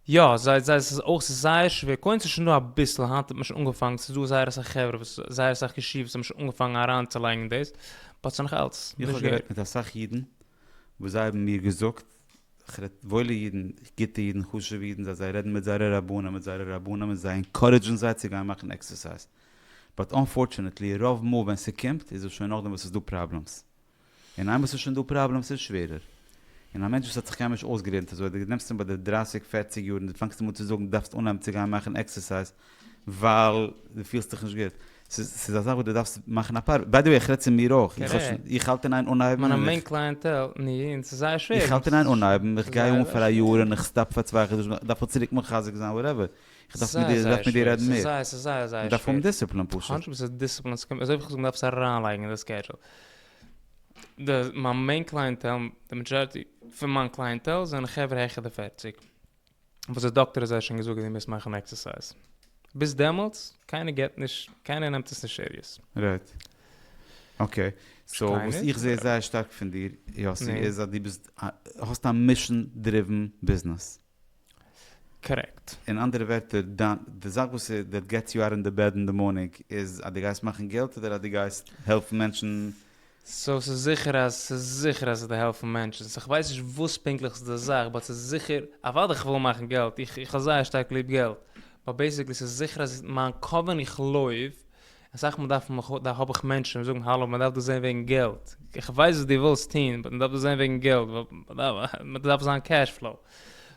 יא, זיי זיי עס איז אויך ס'איז זייער שווער, קודם ס'איז שוין דא אביסל, היינט האט מען שוין אנגעפאנגן, ס'איז דא זייער אסאך חברה וואס זייער אסאך ישיבות האבן שוין אנגעפאנגן אריינצולייגן דאס, באט ס'איז נאך אלץ איך האב נישט גערעדט גענוג. מיט אסאך אידן וואס זיי האבן מיר געזאגט, איך רעד וואוילע אידן, גוטע אידן, חשוב'ע אידן, זיי זיי רעדן מיט זייערע רבנים, מיט זייערע רבנים און זיי ענקארעדזשן זיי צו גיין מאכן עקסערסייז, באט אנפארטשענעטלי רוב מאל ווען ס'קומט איז עס שוין נאכדעם וואס ס'איז דא פראבלעמס. און איינמאל ס'איז שוין דא פראבלעמס איז שווערער. און א מענטש וואס האט זיך קיינמאל נישט אויסגעלערנט אזוי, דו נעמסט אים ביי די דרייסיג פערציג יאר און דו פאנגסט אים אן צו זאגן דו דארפסט אנהייבן צו גיין מאכן עקסערסייז ווייל דו פילסט דיך נישט גוט. ס'איז ס'איז א זאך וואס דו דארפסט מאכן א פאר. ביי די וועי איך רעד צו מיר אויך. איך האב שוין איך האלט אין איין אנהייבן און איך. מיינע מעין קלייענטעל און איך און ס'איז זייער שווער. איך האלט אין איין אנהייבן, איך גיי אן פאר א יאר און איך סטאפ פאר צוויי חדשים, איך דארף מיך צוריק מחזק זיין וואטעווער. איך דארף מיט דיר איך דארף מיט דיר רעדן מער. ס'איז זייער זייער שווער. מ'דארף האבן דיסציפלין פשוט. הונדרעט פראצענט דיסציפלין, ס'קומט אזוי אויף איך זאג מ'דארף עס אריינלייגן אין די סקעדזשול. די מיין מעין קלייענטעל, די מעדזשאריטי פון מיין קלייענטעל זענען חברה העכער די פערציג, וואס די דאקטער האט זיי שוין געזאגט אז זיי מוזן מאכן עקסערסייז. ביז דעמאלטס, קיינער געבט נישט, קיינער נעמט עס נישט סיריעס. רייט. אקעי. סאו, פארשטיי וואס נישט. איך זעה זייער שטארק פון דיר, יאסי, נו? איז אז דו ביסט א, האסט א מישאן דריווען ביזנעס. קארעקט. אין אנדערע ווערטער, די זאך וואס דעט געטס יו אוט און די בעד אין די מארנינג איז אז דו גייסט מאכן געלט אדער אז דו גייסט העלפן מענטשן? סאו ס'איז זיכער אז ס'איז זיכער אז ס'דא העלפן מענטשן, סאו כ'ווייס נישט וואס פונקטליך איז די זאך באט ס'איז זיכער, אוודאי כ'וויל מאכן געלט, איך האב זייער שטארק ליב געלט, באט בעיסיקלי ס'איז זיכער אז מיין כוונה איך לויף אסאך מאל דארף מען דא האב איך מענטשן וואס זאגן האלא מען דארף דאס זען וועגן געלט, איך ווייס וואס דו ווילסט טוהן באט מען דארף דאס זען וועגן געלט ווייל מען דארף זיין קעש פלאו,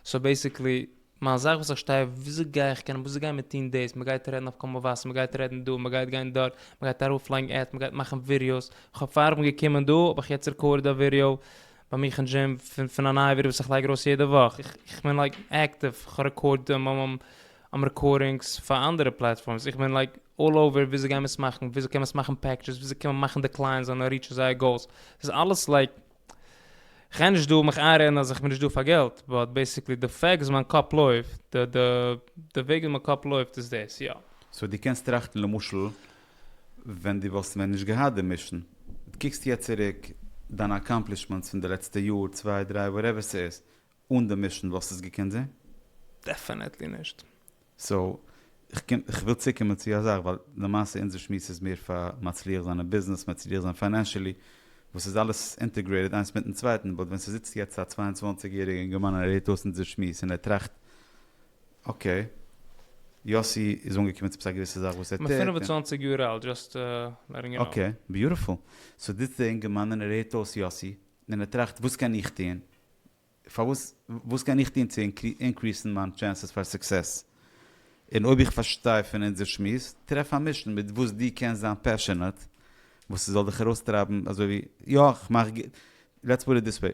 סאו בעסיקלי מיין זאך וואס איך שטיי וויאזוי גיי איך קענען וויאזוי גייען מיר טוהן דאס מען גייט רעדן אויף קול מבשר מען גייט רעדן דא מען גייט גיין דארט מען גייט ארויפלייגן עדס מען גייט מאכן ווידיאוס, איך האב פארדעם געקומען דא האב איך יעצט רעקארדעד א ווידיאו ביי מיך אין דזשים פון א נייע ווידיאו וואס איך לייג ארויס יעדע וואך, איך בין לייק עקטיוו איך רעקארד רעקארדינגס פאר אנדערע פלעטפארמס איך בין לייק אלל אווער וויאזוי גייען מיר עס מאכן וויאזוי קען מען עס מאכן פעקדזשעס וויאזוי קען מען מאכן די קלייענטס זאלן ריטשן זייער גאולס ס'איז אלעס לייק כ'גיי נישט דא מיך איינרעדן אז איך בין נישט דא פאר געלט באט בעסיקלי די פעקט וואס מיין קאפ לויפט די די די וועג ווי מיין קאפ לויפט איז דאס יא. סאו דו קענסט טראכטן למשל ווען דו וואלסט ווען נישט געהאט די מישן דו קוקסט יעצט צוריק דיינע אקאמפלישמענטס פון די לעצטע יאר צוויי דריי וואטעווער ס'איז אן די מישן וואלסטו עס געקענט זעהן? דעפענעטלי נישט. סאו, איך וויל צוקומען צו א זאך, ווייל למעשה אונזער שמועס איז מער פאר מצליח זיין אין ביזנעס, מצליח זיין פיינענשעלי, וואס איז אלעס אינטעגרעיטעד איינס מיטן צווייטן, באט ווען ס'זיצט יעצט א צוויי און צוואַנציק יעריגע אינגערמאן און ער הערט אויס אונזער שמועס און ער טראכט, אקעי, יאסי איז אנגעקומען צו א געוויסע זאך וואס ער טוט, און. כ'בין פֿינף און צוואַנציק יאר אלט, דזשאסט לעטינג יו נאו. אקעי, ביוטיפול. סאו זיצט דער אינגערמאן און ער הערט אויס יאסי, און ער טראכט, וואס קען איך טון? פארוואס? וואס קען איך טון צו אינקריסן מיין טשענסעס פאר סוקסעס? און אויב איך פארשטיי פון אונזער שמועס, טרעף א מישן מיט וואס דו קענסט זיין פעשענעט, וואס ס'זאל דיך ארויסטרייבן אזוי ווי יא איך מאך ג-, לעטס פוט איט דיס וועי,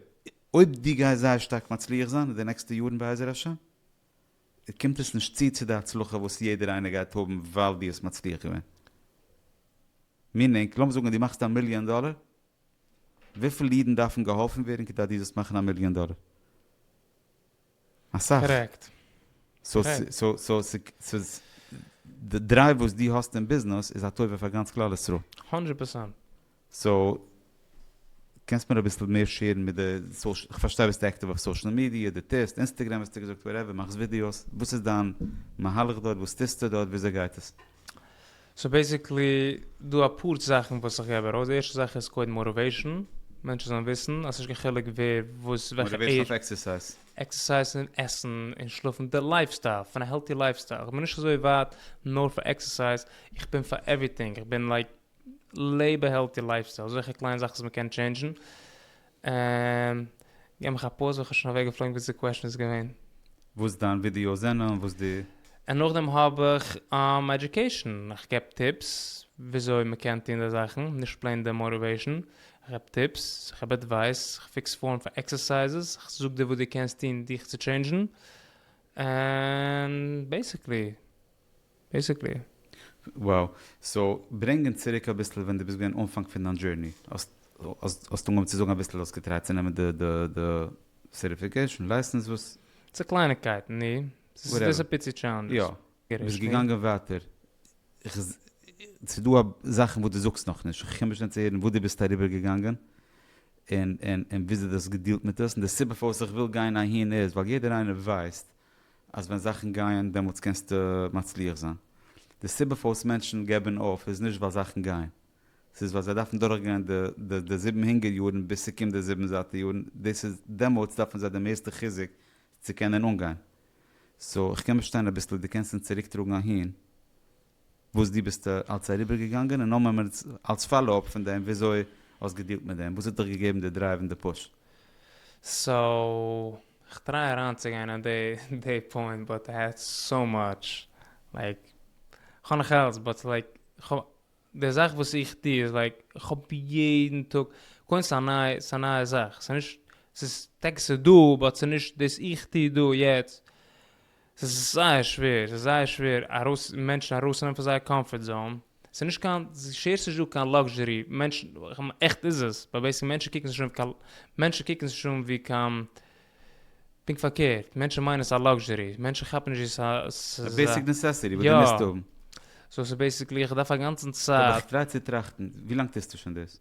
אויב דו גייסט זייער שטארק מצליח זיין אין די נעקסטע יארן בעזר השם, קומט עס נישט צו צו די הצלחה וואס יעדער איינער גייט האבן ווייל דו האסט מצליח געווען. מינינג, לאמיר זאגן דו מאכסט א מיליאן דאלער, וויפיל אידן דארפן געהאלפן ווערן כדי דו זאלסט מאכן א מיליאן דאלער? אסאך. סאו די דרייוו וואס דו האסט אין ביזנעס איז א טובה פאר גאנץ כלל ישראל. הונדרעט פערסענט. סאו קענסט מיר אביסל מער שערן מיט די סאשעל, איך פארשטיי ביסט עקטיוו אויף סאשעל מידיע, דו טוסט, אינסטעגרעם האסטו געזאגט, וואטעווער, מאכסט ווידיאוס, וואס איז דיין מהלך דארט, וואס טוסטו דארט, וויאזוי גייט עס? סאו בעסיקלי דא אפאר זאכן וואס איך געב ארויס, די ערשטע זאך איז קודם מאטיוועישן, מענטשן זאלן וויסן אז ס'נישט קיין חילוק ווער וואס וועלכע עידזש. מאטיוועישן אויף עקסערסייז. עקסערסייז און עסן און שלאפן, די לייף סטייל, פון א העלטי לייף סטייל, איך בין נישט אזוי ווייט נאר פאר עקסערסייז, איך בין פאר עווריטינג, איך בין לייק לעב א העלטי לייף סטייל, אזעלכע קליינע זאכן וואס מ'קען טשעינדזשן, און געב מיך א פאוז ווען כ'בין שוין אוועק געפלויגן וואס די קוועשן איז געווען. וואס דיין ווידיאו זענען און וואס די. און נאכדעם האב איך עדיוקעישן, איך געב טיפס וויאזוי מ'קען טון די זאכן, נישט פלעין די מאטיוועישן, איך געב טיפס, איך געב עדווייס, איך פיקס פארן פאר עקסערסייזעס, איך זאג דיר וואס דו קענסט טון דיך צו טשעינדזשן, און בעיסיקלי. בעיסיקלי. וואו. סאו ברענג אונז צוריק אביסל ווען דו ביסט געווען אנפאנג פון דיין דזשורני. האסט אנגעהויבן צו זאגן אביסל האסט געטרייט צו נעמען די די די סערטיפיקעשן, לייסענס, וואס. ס'איז קלייניקייטן, ני? ס'איז דאס א פיצי טשעלענדזש. יא. ביסט געגאנגען ווייטער. ס'איז דא זאכן וואס דו זאגסט נאכנישט. איך קום נישט אן צו הערן וואס דו ביסט אריבער געגאנגען, און און און וויאזוי דו האסט געדילט מיט עס. און די סיבה פארוואס איך וויל גיין אהין איז ווייל יעדער איינער ווייסט אז ווען זאכן גייען דעמאלטס קענסטו מצליח זיין. די סיבה פארוואס מענטשן געבן אויף איז נישט ווייל זאכן גייען, ס'איז ווייל זיי דארפן דורכגיין די זיבן הונגער יארן ביז ס'קומט די זיבן זאטע יארן, דאס איז דעמאלטס דארפן זיי די מערסטע חיזוק צו קענען אנגיין. סאו, איך קען באשטיין אביסל, דו קענסט אונז צוריקטראגן אהין? וואס דו ביסטו אלץ אריבערגעגאנגען און נאר ממליץ אלץ פאלא אפ פון דעם וויאזוי האסט געדילט מיט דעם וואס האט דיך געגעבן די דרייוו און די פוש. סאו כ'טריי אריינצוגיין אין די פוינט באט איי האב סאו מאטש לייק כ'האב נאך אלץ באט לייק כ'האב די זאך וואס איך טו איז לייק כ'האב יעדן טאג קודם ס'איז א נייע ס'איז א נייע זאך ס'איז נישט ס'איז טאקע ס'איז דא באט ס'איז נישט דאס איך טו דא יעצט. ס'איז זייער שווער, ס'איז זייער שווער ארויס, מענטשן ארויסצונעמען פון זייער קאמפארט זאון, ס'איז נישט קיין, שער ס'נישט דא קיין לאקזשערי, מענטשן, עכט איז עס, ווייל בעצם מענטשן קוקן זיך נישט אן ווי קיין, מענטשן קוקן זיך נישט אן ווי קיין, פונקט פארקערט, מענטשן מיינען עס א לאקזשערי, מענטשן כאפן נישט ווי ס'איז א, א ס'איז א, בעסיק נעסעסיטי וואס דו מוזט יא, האבן. סאו ס'איז בעסיקלי איך דארף א גאנצן אבער צייט. כ'טריי צו טראכטן, ווי לאנג טוסטו שוין דאס?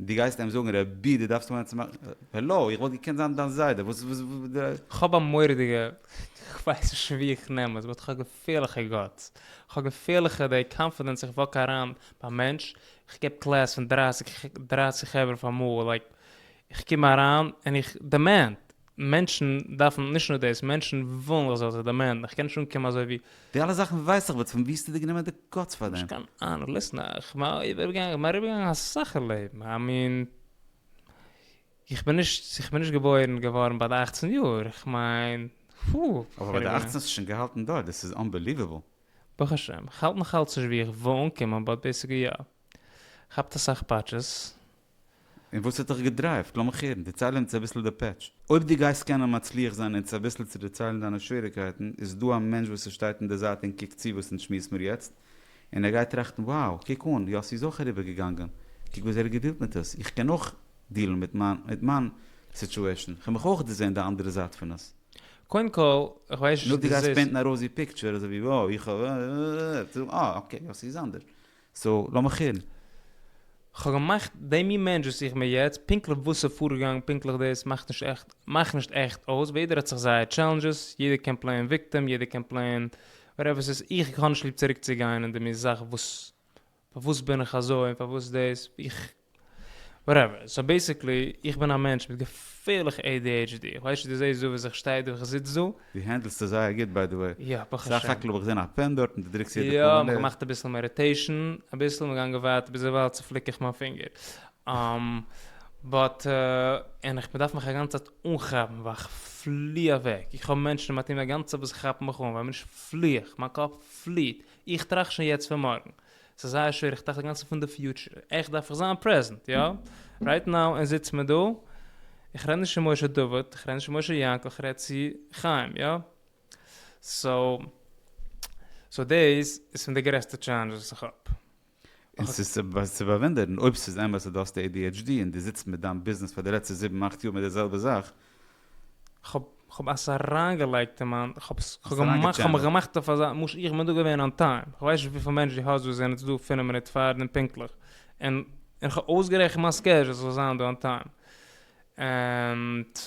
דו גייסט אים זאגן רבי דו דארפסט וואוינען צום ארבעט? העלא, איך וואלט געקענט זיין דיין זיידע, וואס וואס. כ'האב א מורא'דיגע, כ'ווייס נישט פון ווי איך נעם עס, באט כ'האב געפירליכע גאטס, כ'האב געפירליכע די קאנפידענס איך וואק אריין ביי א מענטש, איך געב קלעס פון דרייסיג חברה פאר מאל, לייק איך קום אריין און איך דעמענד, מענטשן דארפן, נישט נאר דאס, מענטשן ווילן איך זאל זיך דערמאנען, איך קען נישט אנקומען אזוי ווי. די אלע זאכן ווייס איך באט פון ווי האסטו דיר גענומען די גאטס פאר דעם? נישט קיין אהנונג, ליסן, איך בין אריבערגעגאנגען אריבערגעגאנגען אסאך אין לעבן, איי מין, איך בין נישט, איך בין נישט געבוירן געווארן ביי די אכצן יאר, איך מיין, פו. אבער ביי די אכצן האסטו שוין געהאלטן דארט, דאס איז אנבעליוועבל. ברוך השם, איך האלט נאכאלץ נישט ווי איך וויל אנקומען באט בעיסיקלי יא. כאפט אסאך פאטשעס. און וואס האט דיך געדרייווט? לאמיך הערן, דערצייל אונז אביסל די פעטש. אויב דו גייסט קענען מצליח זיין אונז אביסל צו דערציילן דיינע שוועריקייטן, איז דא א מענטש וואס עס שטייט אין די זייט און קוקט צו וואס אונז שמועס מיר יעצט, און ער גייט טראכטן wow, קוק אן, יאסי איז אויך אריבער געגאנגען, קוק וויאזוי ער האט געדילט מיט עס, איך קען אויך דילן מיט מיין מיט מיין סיטשועשן, איך האב מיך אויך דערזען די אנדערע זייט פון עס. קודם כל, איך ווייס נישט און אויב דו דו גייסט זעסט. פעינטן א ראוזי פיקטשער אזוי ווי wow, איך האב אה, אקעי, יאסי איז אנדערש. סאו לאמיך הערן. כ'האב געמאכט דעם מין מענטש וואס איך בין יעצט, פונקטליך וואסע פארגאנג פונקטליך דאס מאכט נישט עכט מאכט נישט עכט אויס, ווער יעדער האט זיך זייער טשעלענדזשעס, יעדער קען פלעין וויקטעם, יעדער קען פלעין וואטעווער ס'איז, איך האב נישט ליב צוריקצוגיין אין די מין זאך וואס פארוואס בין איך אזוי און פארוואס דאס, איך וואטעווער, סאו בעסיקלי, איך בין א מענטש מיט געפערליכע adhd, איך ווייס נישט צו דו זעסט דא וואס איך שטיי דא וואס איך זיץ דא. דו הענדלסט עס זייער גוט ביי די וועי, יא ברוך סך השם. הכל האב איך געזען א פען דארט און דו דרוקסט יעדע יא, פאמעלע. געמאכט אביסל מעדיטעישן, אביסל, מיר גייען געווארט ביז דערווייל צופליק איך מיין פינגער. באט און איך באדארף מיך א גאנצע צייט אנכאפן ווייל איך פלי אוועק, איך האב מענטשן אין מיין טיעם א גאנצע צייט וואס כאפן מיך אן ווייל מיר נישט פלי איך, מיין קאפ פליט, איך טראכט שוין יעצט פון מארגן, ס'איז זייער שווער, איך טראכט אינגאנצן פון די פיוטשער, עכט דארף איך זיין פרעזענט, יא, רייט נאו, און זיץ מיר דא, איך רעד נישט צו משה דוד, איך רעד נישט צו משה יענקל, איך רעד צו חיים, יא, סאו, סאו דעיס איז פון די גרעסטע טשעלענדזשעס וואס איך האב. און ס'איז צו באוואונדערן, אויב ס'איז אמת אז דו האסט adhd און דו זיצט מיט דיין ביזנעס פאר די לעצטע זיבן אכט יאר מיט די זעלבע זאך, כ'האב עס אריינגעלייגט אין מיין, כ'האב עס, כ'האב געמאכט, כ'האב מיך געמאכט אויף אזא, משא כ איך בין דא געווען אן טיים, כ'ווייס נישט וויפיל מענטשן דו האסט וואס זענען יעצט דא פינף מינוט פאר דעם פונקטליך, און איך האב אויסגערעכנט מיין סקעדזשול ס'זאל זיין דא אן טיים, ענד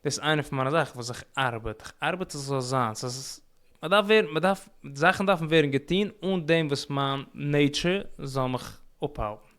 דאס איינע פון מיינע זאכן וואס איך ארבעט, איך ארבעט אז ס'זאל זיין, ס'איז, מ'דארף ווערן, מ'דארף, זאכן דארפן ווערן געטון אן דעם וואס מיין נעיטשער זאל מיך אפהאלטן.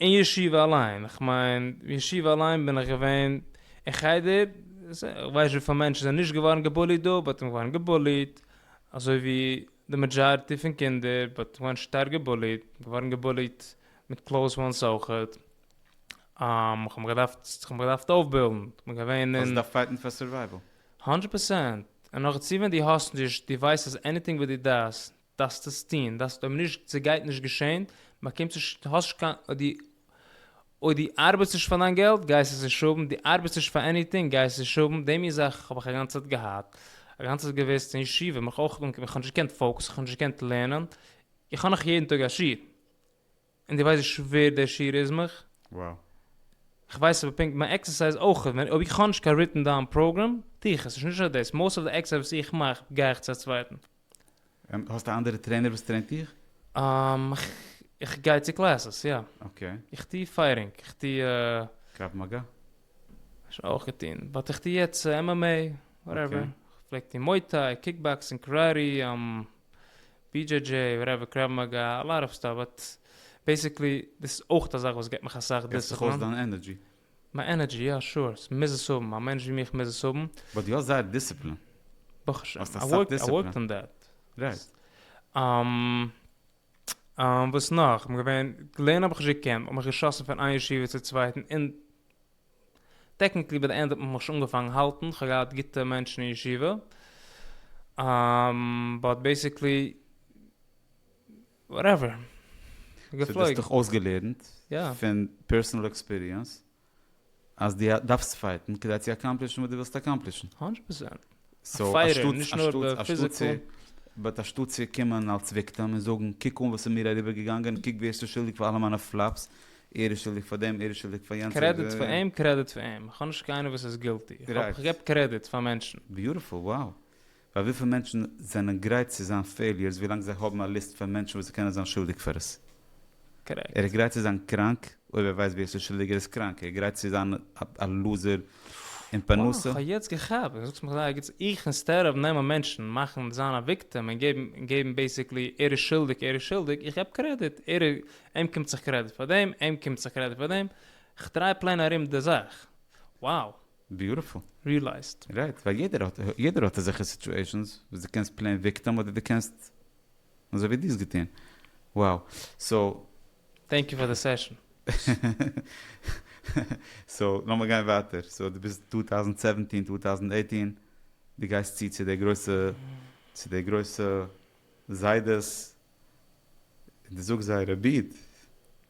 אין ישיבה אליין, איך מיין אין ישיבה אליין בין איך געווען אין חדר, איך ווייס וויפיל מענטשן זענען נישט געווארן געבוליט דא, באט מ'איז געווארן געבוליט, אזוי ווי די מעדזשארטי פון קינדער, באט געווארן שטארק געבוליט, געווארן געבוליט מיט קלאוז וואנס אויכעט, איך האב מיך געדארפט, איך האב מיך געדארפט אויפבילדן, איך בין געווען אין. האסט געדארפט פייטן פאר סורווייוועל. האנדרעט פערסענט, און נאכדערצו ווען דו האסט נישט, דו ווייסט אז עניטינג וואט דו דאסט, דארפסט עס טוהן, דארפסט אויב נישט ס'גייט נישט געשעהן, באקומסט נישט, האסט נישט קיין, אויב די, אויב די ארבעטסט נישט פאר דיין געלט גייסט עס נישט האבן, די ארבעטסט נישט פאר עניטינג גייסט עס נישט האבן, די מין זאך האב איך אגאנצע צייט געהאט, אגאנצע צייט געוועסט אין ישיבה, מיך אויך, איך האב נישט געקענט פאוקעסן, איך האב נישט געקענט לערנען, איך האב נאך יעדן טאג א שיעור. און דו ווייסט ווי שווער דער שיעור איז מיך? וואו? איך ווייס אבער פונקט מיין עקסערסייז אויך ווען אויב איך האב נישט קיין ריטן דאון פראגרעם טו איך עס נישט נישט נאר דאס מאסט אוו די עקסערסייז וואס איך מאך גיי איך צו א צווייטן. און האסט א אנדערע טרעינער וואס טרעינט דיך? אהמ איך גיי צו קלעסעס יא. אקעי. איך טו פייטינג איך טו. קרב מגע? שוין אויך געטון באט איך טו יעצט MMA וואטעווער. אקעי. איך פלעג טון מוי טיי, קיקבאקסינג, קאראטי, אהמ BJJ, וואטעווער, קרב מאגא, א לאט אוו סטאף, באט בעסיקלי דאס איז אויך א זאך וואס געבט מיך אסאך גיבט זיך אויס דיסציפלין. דיין ענערדזשי. מיין ענערדזשי, יא שור, ס'מוז עס האבן, א מענטש ווי מיך מוז עס האבן. באט דו האסט זייער דיסציפלין. ברוך השם, האסט איי אסאך ווארק, איי דיסציפלין. ווארקד אן דעט. רייט. וואס נאך? כ'בין געווען, לערנען האב איך נישט געקענט, כ'האב מיך געשאסן פון איין ישיבה צו צווייטן, און טעקניקלי ביי די ענד האט מען מיך שוין אנגעפאנגן האלטן, כ'האב געהאט גוטע מענטשן אין ישיבה, באט בעיסיקלי, וואטעווער, כ'בין געפלויגן. סאו דו האסט דיך אויסגעלערנט פון פערסאנעל עקספיריענס אז דו דארפסט פייטן כדי צו אקאמפלישן וואס דו ווילסט אקאמפלישן. הונדרעט פראצענט. א פייערער, נישט נאר די פיזיקעל. באט אנשטאט צו קומען אלס וויקטעם און זאגן קוק אן וואס איז מיר אריבער געגאנגען, קוק ווער ס'איז שולדיג פאר אלע מיינע פלאפס, ער איז שולדיג פאר דעם, ער איז שולדיג פאר יענץ. קרעדיט פאר אים, קרעדיט פאר אים. איך האב נישט קיינער וואס איז גילטי. איך געב קרעדיט פאר מענטשן. ביוטיפול, wow. ווייל וויפיל מענטשן זענען גרייט צו זיין פעיליערס ווילאנג זיי האבן א ליסט פון מענטשן וואס זיי קענען זיין שולדיג פאר עס? ער איז גרייט צו זיין קראנק אויב ער ווייסט ווער ס'איז שולדיג, ער איז קראנק, ער איז גרייט צו זיין א לוזער אין פרנסה. וואו, כ'האב יעצט געכאפט, דו זאגסט מיך זייער גוט, איך אינסטעד אוו נעמען מענטשן, מאכן, זיין א וויקטעם און געבן, געבן בעיסיקלי ער איז שולדיג, ער איז שולדיג, איך געב קרעדיט, ער איז, אים קומט זיך קרעדיט פאר דעם, אים קומט זיך קרעדיט פאר דעם, כ'דריי פלעין ארום די זאך. Wow! ביוטיפול. ריעלייזט. רייט, ווייל יעדער האט, יעדער האט אזעלכע סיטועשאנס וואס דו קענסט פלעין וויקטעם אדער דו קענסט אזוי ווי דו האסט געטון. Wow. סאו. טענק יו פאר די סעשאן. סאו לאמיר גיין ווייטער. סאו דו ביסט טו טאוזענט סעווענטין, טו טאוזענט עיטין, דו גייסט צו צו די גרויסע, צו די גרויסע זיידעס, און דו זאגסט זיי רביד.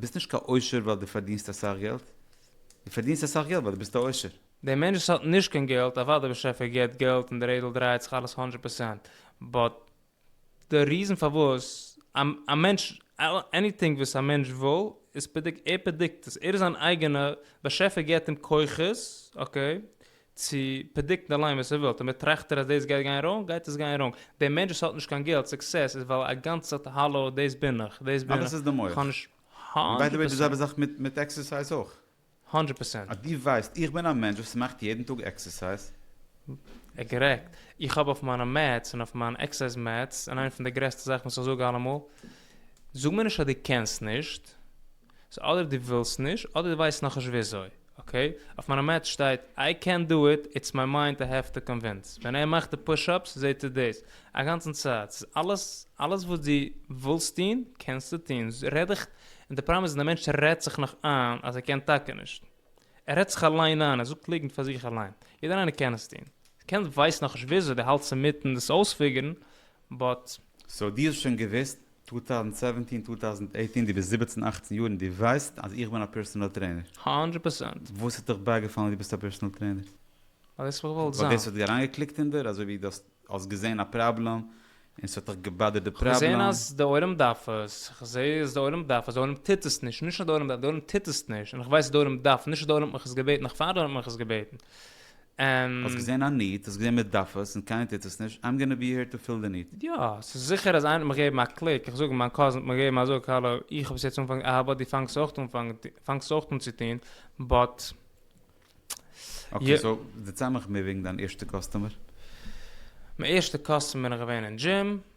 ביסט נישט קיין עושר ווייל דו פארדינסט אסאך געלט, דו פארדינסט אסאך געלט ווייל דו ביסט א עושר. דער מענטש וואס האט נישט קיין געלט, אוודאי דער באשעפער געבט געלט און די רעדל דרייעט זיך אלעס הונדרעט פערסענט, באט די ריזען פארוואס א מענטש עניטינג וואס א מענטש וויל איז פרעדיק ער פרעדיקט עס, ער איז זיין אייגענע באשעפער געבט אים כוחות אקעי צו פרעדיקטן אליין וואס ער וויל, תמיד טראכט ער אז דאס גייט גיין ראונג, גייט עס גיין ראונג, דער מענטש וואס האט נישט קיין געלט, סוקסעס איז ווייל א גאנץ צייט האלא דאס בין איך, דאס בין איך, כ'האב נישט, האנדרעט פערסענט. האנדרעט פערסענט. אז דו ווייסט איך בין א מענטש וואס מאכט יעדן טאג עקסערסייז. קארעקט. איך האב אויף מיינע מעטס און אויף מיין עקסערסייז מעטס, און איינע פון די גרעסטע זאכן וואס איך זאג אלעמאל, זאג מיר נישט אז דו קענסט נישט, סאו אדער דו ווילסט נישט אדער דו ווייסט נאכנישט וויאזוי, אקעי? אויף מיינע מעטס שטייט איי קענט דו איט, איטס מיי מיינד איי העוו טו קאנווינס. ווען ער מאכט די פוש אפס זעהט ער דאס אגאנצן צייט. סאיז אלעס אלעס וואס דו ווילסט טון קענסטו טון. רעד דיך און די פראבלעם איז די מענטש רעדט זיך נאך איין אז ער קען טאקע נישט. ער רעדט זיך אליין איין, ער זאגט ליגנט פאר זיך אליין. יעדער איינער קען עס טון. דו קענסט ווייסט נאכנישט וויאזוי, דו האלטסט אינמיטן דאס אויספיגערן באט. סאו דו האסט שוין געוויסט 2017 2018 די ביסט זיבעצן אכצן יאר און די ווייסט אז איך בין א פערסענעל טרעינער? האנדרעט פערסענט. וואס האט דיך בייגעפאלן אז די ביסט א פערסענעל טרעינער? ווייל דאס האב איך געוואלט זיין. ווייל דאס האט אריינגעקליקט אין דיר? אזוי ווי דו האסט געזען א פראבלעם און ס'האט דיך געבאדערט די פראבלעם? כ'האב געזען אז די עולם דארף עס, כ'זע אז די עולם דארף עס, די עולם טוט עס נישט, נישט אז די עולם דארף, די עולם טוט עס נישט, און כ'ווייס אז די עולם דארף, נישט אז די עולם האט מיך עס געבעטן, נאך פאר די עולם האט מיך עס געבעטן, האסט געזען א ניד, האסט געזען מען דארף עס און קיינער טוט עס נישט, איים גאנא בי העיר טו פיל די ניד. יא, ס'איז זיכער אז איינער האט מיר געגעבן א קליק, איך זאג מיין קאזין האט מיר געגעבן א זאג, האלא, איך האב עס יעצט אנגעפאנגען, אהבה, דו פאנגסט אויך אן פאנגסט אויך אן צו טון, באט. אקעי, סאו דערצייל מיך מער וועגן דיין ערשטע קאסטומער. מיין ערשטע קאסטומער איז געווען אין דזשים.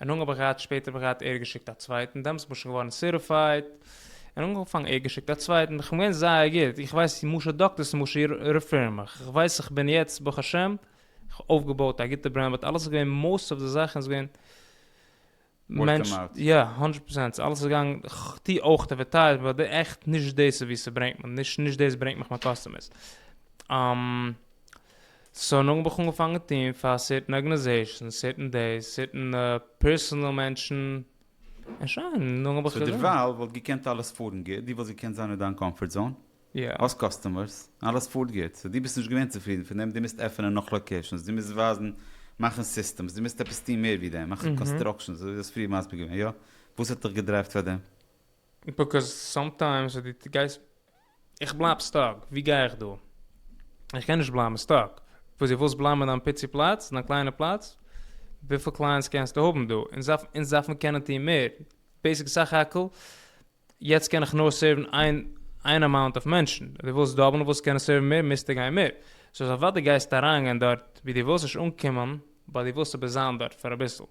און אנגעהויבן האב איך געהאט שפעטער האב איך געהאט ער האט געשיקט א צווייטן דעמאלטס בין איך שוין געווארן סערטיפייד און אנגעפאנגען ער האט געשיקט א צווייטן איך בין געווען זייער גוט איך ווייס צו משא דאקטערס צו משא רופאים איך ווייס איך בין יעצט ברוך השם איך האב אויפגעבויט א גוטע ברענד באט אלעס איז געווען מאוסט אוו די זאכן איז געווען Word of mouth. יא הונדרעט פראצענט אלעס איז געגאנגען איך טו אויך אדווערטייזמענט באט די עכט נישט דאס איז ווי ס'ברענגט מיך נישט נישט דאס ברענגט מיך מיין קאסטומערס. סאו נאכדעם האב איך אנגעפאנגען טוהן פאר סערטען ארגענעזעישאנס, סערטען דעיס, סערטען פערסאנעל מענטשן, און שוין, נאכדעם האב איך סאו דערווייל וואלט געקענט אלעס פארן גוט, דו וואלסט געקענט זיין אין דיין קאמפארט זאון, יא. האסט קאסטומערס, אלעס פארט גוט, סאו דו ביסט נישט געווען צופרידן פון דעם, דו מוזט עפענען נאך לאקעישאנס, דו מוזט ווייזן, מאכן סיסטעמס, דו מוזט עפעס טוהן מער ווי דעם, מאכן קאנסטראקשאנס, אזוי ווי דו האסט פריער מסביר געווען, יא? וואס האט דיך געדרייווט פאר דעם? ביקאוז סאמטיימס ווען דו גייסט, איך בלייב סטאק, ווי גיי איך דא? איך קען נישט בלייבן סטאק, וואס דו ווילסט בלייבן אין דיין פיצי פלאץ, דיין קליינע פלאץ? וויפיל קלייענטס קענסטו האבן דא? אונז דארף, אונז דארפן קענען טון מער, בעיסיק סך הכל יעצט קען איך נאר סערוון איין איין אמאונט אויף מענטשן, דו ווילסט דאבלן וואס קענען סערוון מער, מוזטו גיין מער, סאו אוודאי גייסטו אריינגיין דארט ווי דו ווילסט נישט אנקומען. ביי די וואס אבער זיין דארט פאר אביסל.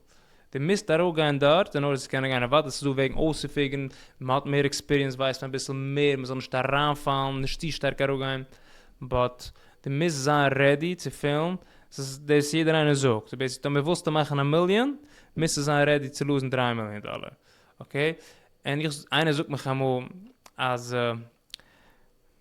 די מיזט ארויף גיין דארט אין ארדער צו קענען גיין אוודאי ס'איז דא וועגן אויסצופיגען, מען האט מער עקספיריענס ווייסט מען אביסל מער מען זאל נישט אריין פאלן נישט צו שטארק ארויף גיין באט די מיזט זיין רעדי צו פעלן ס'איז דאס יעדער איינער זאגט איז בעיסיקלי טאמער ווילסטו מאכן א מיליאן מיזטו זיין רעדי צו לאזן דרײַ מיליאן דאלער אקעי אין איך איינער זאגט מיך אמאל אז.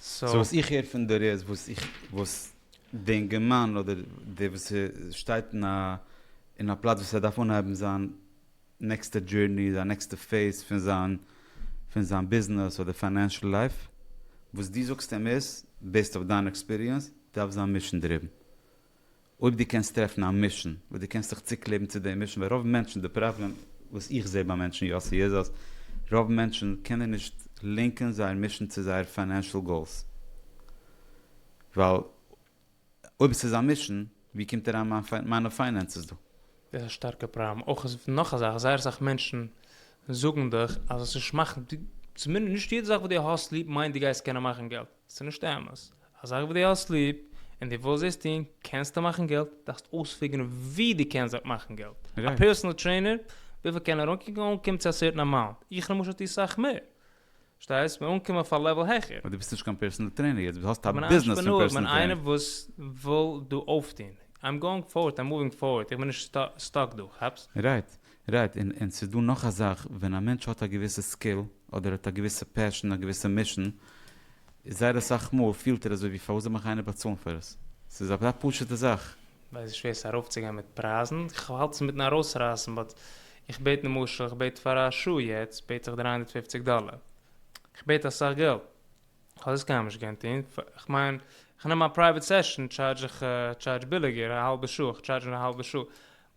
סאו וואס איך הער פון דיר איז וואס איך וואס די אינגערמאן אדער דער וואס שטייט אין א אין א פלאץ וואס ער דארף אנהייבן זיין נעקסטע דזשורני זיין נעקסטע פעיז פון זיין פון זיין ביזנעס אדער פיינענשעל לייף וואס דו זאגסט אים איז בעיסד אויף דיין עקספיריענס דארף זיין מישן דרובן. אויב דו קענסט טרעפן א מישן וואס דו קענסט זיך צוקלעבן צו דעם מישן, ווייל רוב מענטשן, די פראבלעם וואס איך זע ביי מענטשן יאסי איז אז רוב מענטשן קענען נישט לינקען זייער מישן צו זייער פיינענשעל גאולס, ווייל אויב עס איז א מישן, ווי קומט אריין מיין מיינע פיינענסעס דא? דאס איז א שטארקע פראבלעם, אויך איז נאך א זאך, זייער אסאך מענטשן זאגן דיך אז עס נישט מאכן, צומינדעסט נישט יעדע זאך וואס דו האסט ליב מיינט דו גייסט קענען מאכן געלט, ס'איז נישט אמת. א זאך וואס דו האסט ליב און דו ווילסט עס טון, קענסטו מאכן געלט, דארפסט אויספיגערן ווי דו קענסט דארט מאכן געלט. א פערסענעל טרעינער, וויפיל קען ער אנקוקן אנקומען צו א סערטען אמאונט? איך למשל טו סאך מער. פארשטייסט? מיר אנקומען אויף א לעוועל העכער. אבער דו ביסט נישט קיין פערסענעל טרעינער יעצט, דו האסט א ביזנעס פון פערסענעל טרעינער. כ'בין א אנטרעפרענאר, כ'בין איינער וואס וויל דא אויפטון. איים גאוינג פארווארד, איים מואווינג פארווארד, איך בין נישט סטאק דא, כאפסט? רייט. רייט, און און ס'איז דא נאך א זאך, ווען א מענטש האט א געוויסע סקיל, אדער ער האט א געוויסע פעשן, א געוויסע מישן, איז זייער אסאך מאל פילט ער אזוי ווי פארוואס זאל מיך איינער באצאלן פאר עס? ס'איז אזא פשוט'ע זאך. ווייס איך שווער עס ארויפצוגיין מיט פרייזן, כ'האלט עס אינמיטן ארויסרייסן, באט איך בעט למשל איך בעט פאר א שעה יעצט בעט איך דרײַ הונדערט פֿופֿציק דאלער, כ'בעט אסאך געלט, כ'האב דאס קיינמאל נישט געקענט טון, כ'מיין כ'נעם א פרייוועט סעשן טשארדזש איך טשארדזש ביליגער, א האלבע שעה, כ'טשארדזש א האלבע שעה,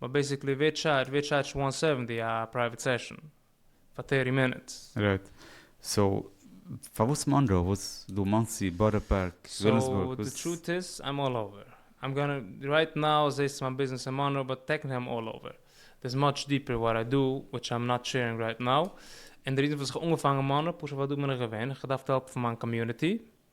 באט בעסיקלי ווער טשארדזש ווער טשארדזשט וואן סעווענטי א פרייוועט סעשאן פאר טערטי מינוטס? רייט. סאו פארוואס מאנרא? וואס דא מאנסי, בארא פארק, ווילימסבורג? סאו די טרוט איז איים אלל אווער. איים גאנע רייט נאו זעהסט צו מיין ביזנעס אין מאנרא באט טעקנילי איים אלל אווער. דערס מאטש דיפער וואט איי דא וויטש איים נאט שערינג רייט נאו. און די ריזן פארוואס איך האב אנגעפאנגען מאנרא פשוט ווייל דא בין איך געווען, איך האב געדארפט העלפן מיין קאמיוניטי,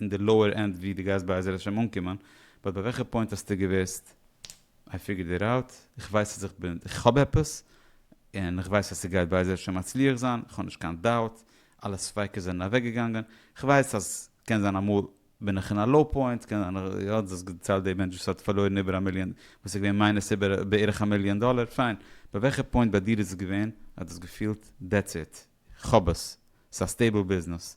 אין די לאוער ענד ווי די גייסט בעזר השם אנקומען, באט ביי וועלכע פוינט האסטו געוואוסט איי פיגורד איט אוט, איך ווייס אז איך בין איך האב עפעס, און איך ווייס אז ס'גייט בעזר השם מצליח זיין, איך האב נישט קיין דאוט, אלע ספיקות זענען אוועק געגאנגען, איך ווייס אז קען זיין אמאל בין איך אין א לאו פוינט, קען זיין איך האט זיך געציילט די מענטש וואס האט פארלוירן איבער א מיליאן, וואס איז געווען מיינוס איבער בערך א מיליאן דאלער, פיין, ביי וועלכע פוינט ביי דיר איז עס געווען אז דו האסט געפילט דעטס איט, איך האב עס, ס'איז א סטעיבל ביזנעס,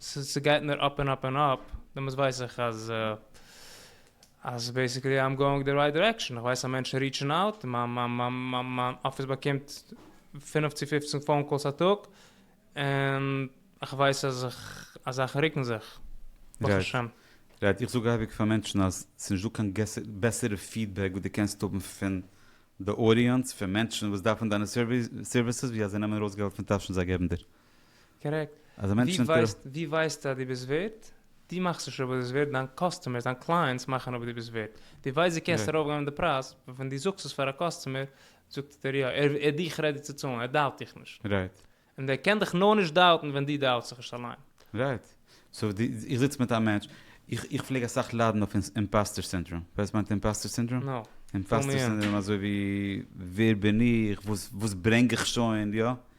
ס'גייט נאר אפ און אפ און אפ, דעמאלטס ווייס איך אז אז בעסיקלי איים גאוינג די רייט דירעקשאן, כ'ווייס אז מענטשן ריעטשן אוט, מיין אפיס באקומט פֿינף צו פֿופֿצן פאון קאלס א טאג, און כ'ווייס אז זאכן רוקן זיך, ברוך השם. רייט, איך זאג אייביג פאר מענטשן אז ס'איז נישט דא קיין בעסערע פידבעק וואס דו קענסט האבן פון די אודיענץ, פון מענטשן וואס דארפן דיינע סערוויסעס, ווי אז זיי נעמען ארויס געלט פון טאשן זיי געבן דיר. קארעקט. אז א מענטש נעמט קעיר. ווי ווייסטו אז דו ביסט ווערט? דו מאכסט נישט אויב דו ביסט ווערט, דיין קאסטומערס, דיין קלייענטס מאכן אויב דו ביסט ווערט. דו ווייסט דו קענסט ארויפגיין די פרייז, און ווען דו זאגסט עס פאר א קאסטומער, זאגט ער יא, ער איז דיך רעדי צו צאלן, ער דאובט דיך נישט. רייט. און דער קען דיך נאר נישט דאובטן ווען דו דאובטסט זיך נישט אליין. רייט. סאו דו, איך זיץ מיט א מענטש, איך איך פלעג אסאך ליידן אויף אימפאסטער סינדראם. ווייסט וואס מיינט אימפאסטער סינדראם? נא. אימפאסטער סינדראם אזוי ווי ווער בין איך, וואס וואס ברענג איך שוין, יא?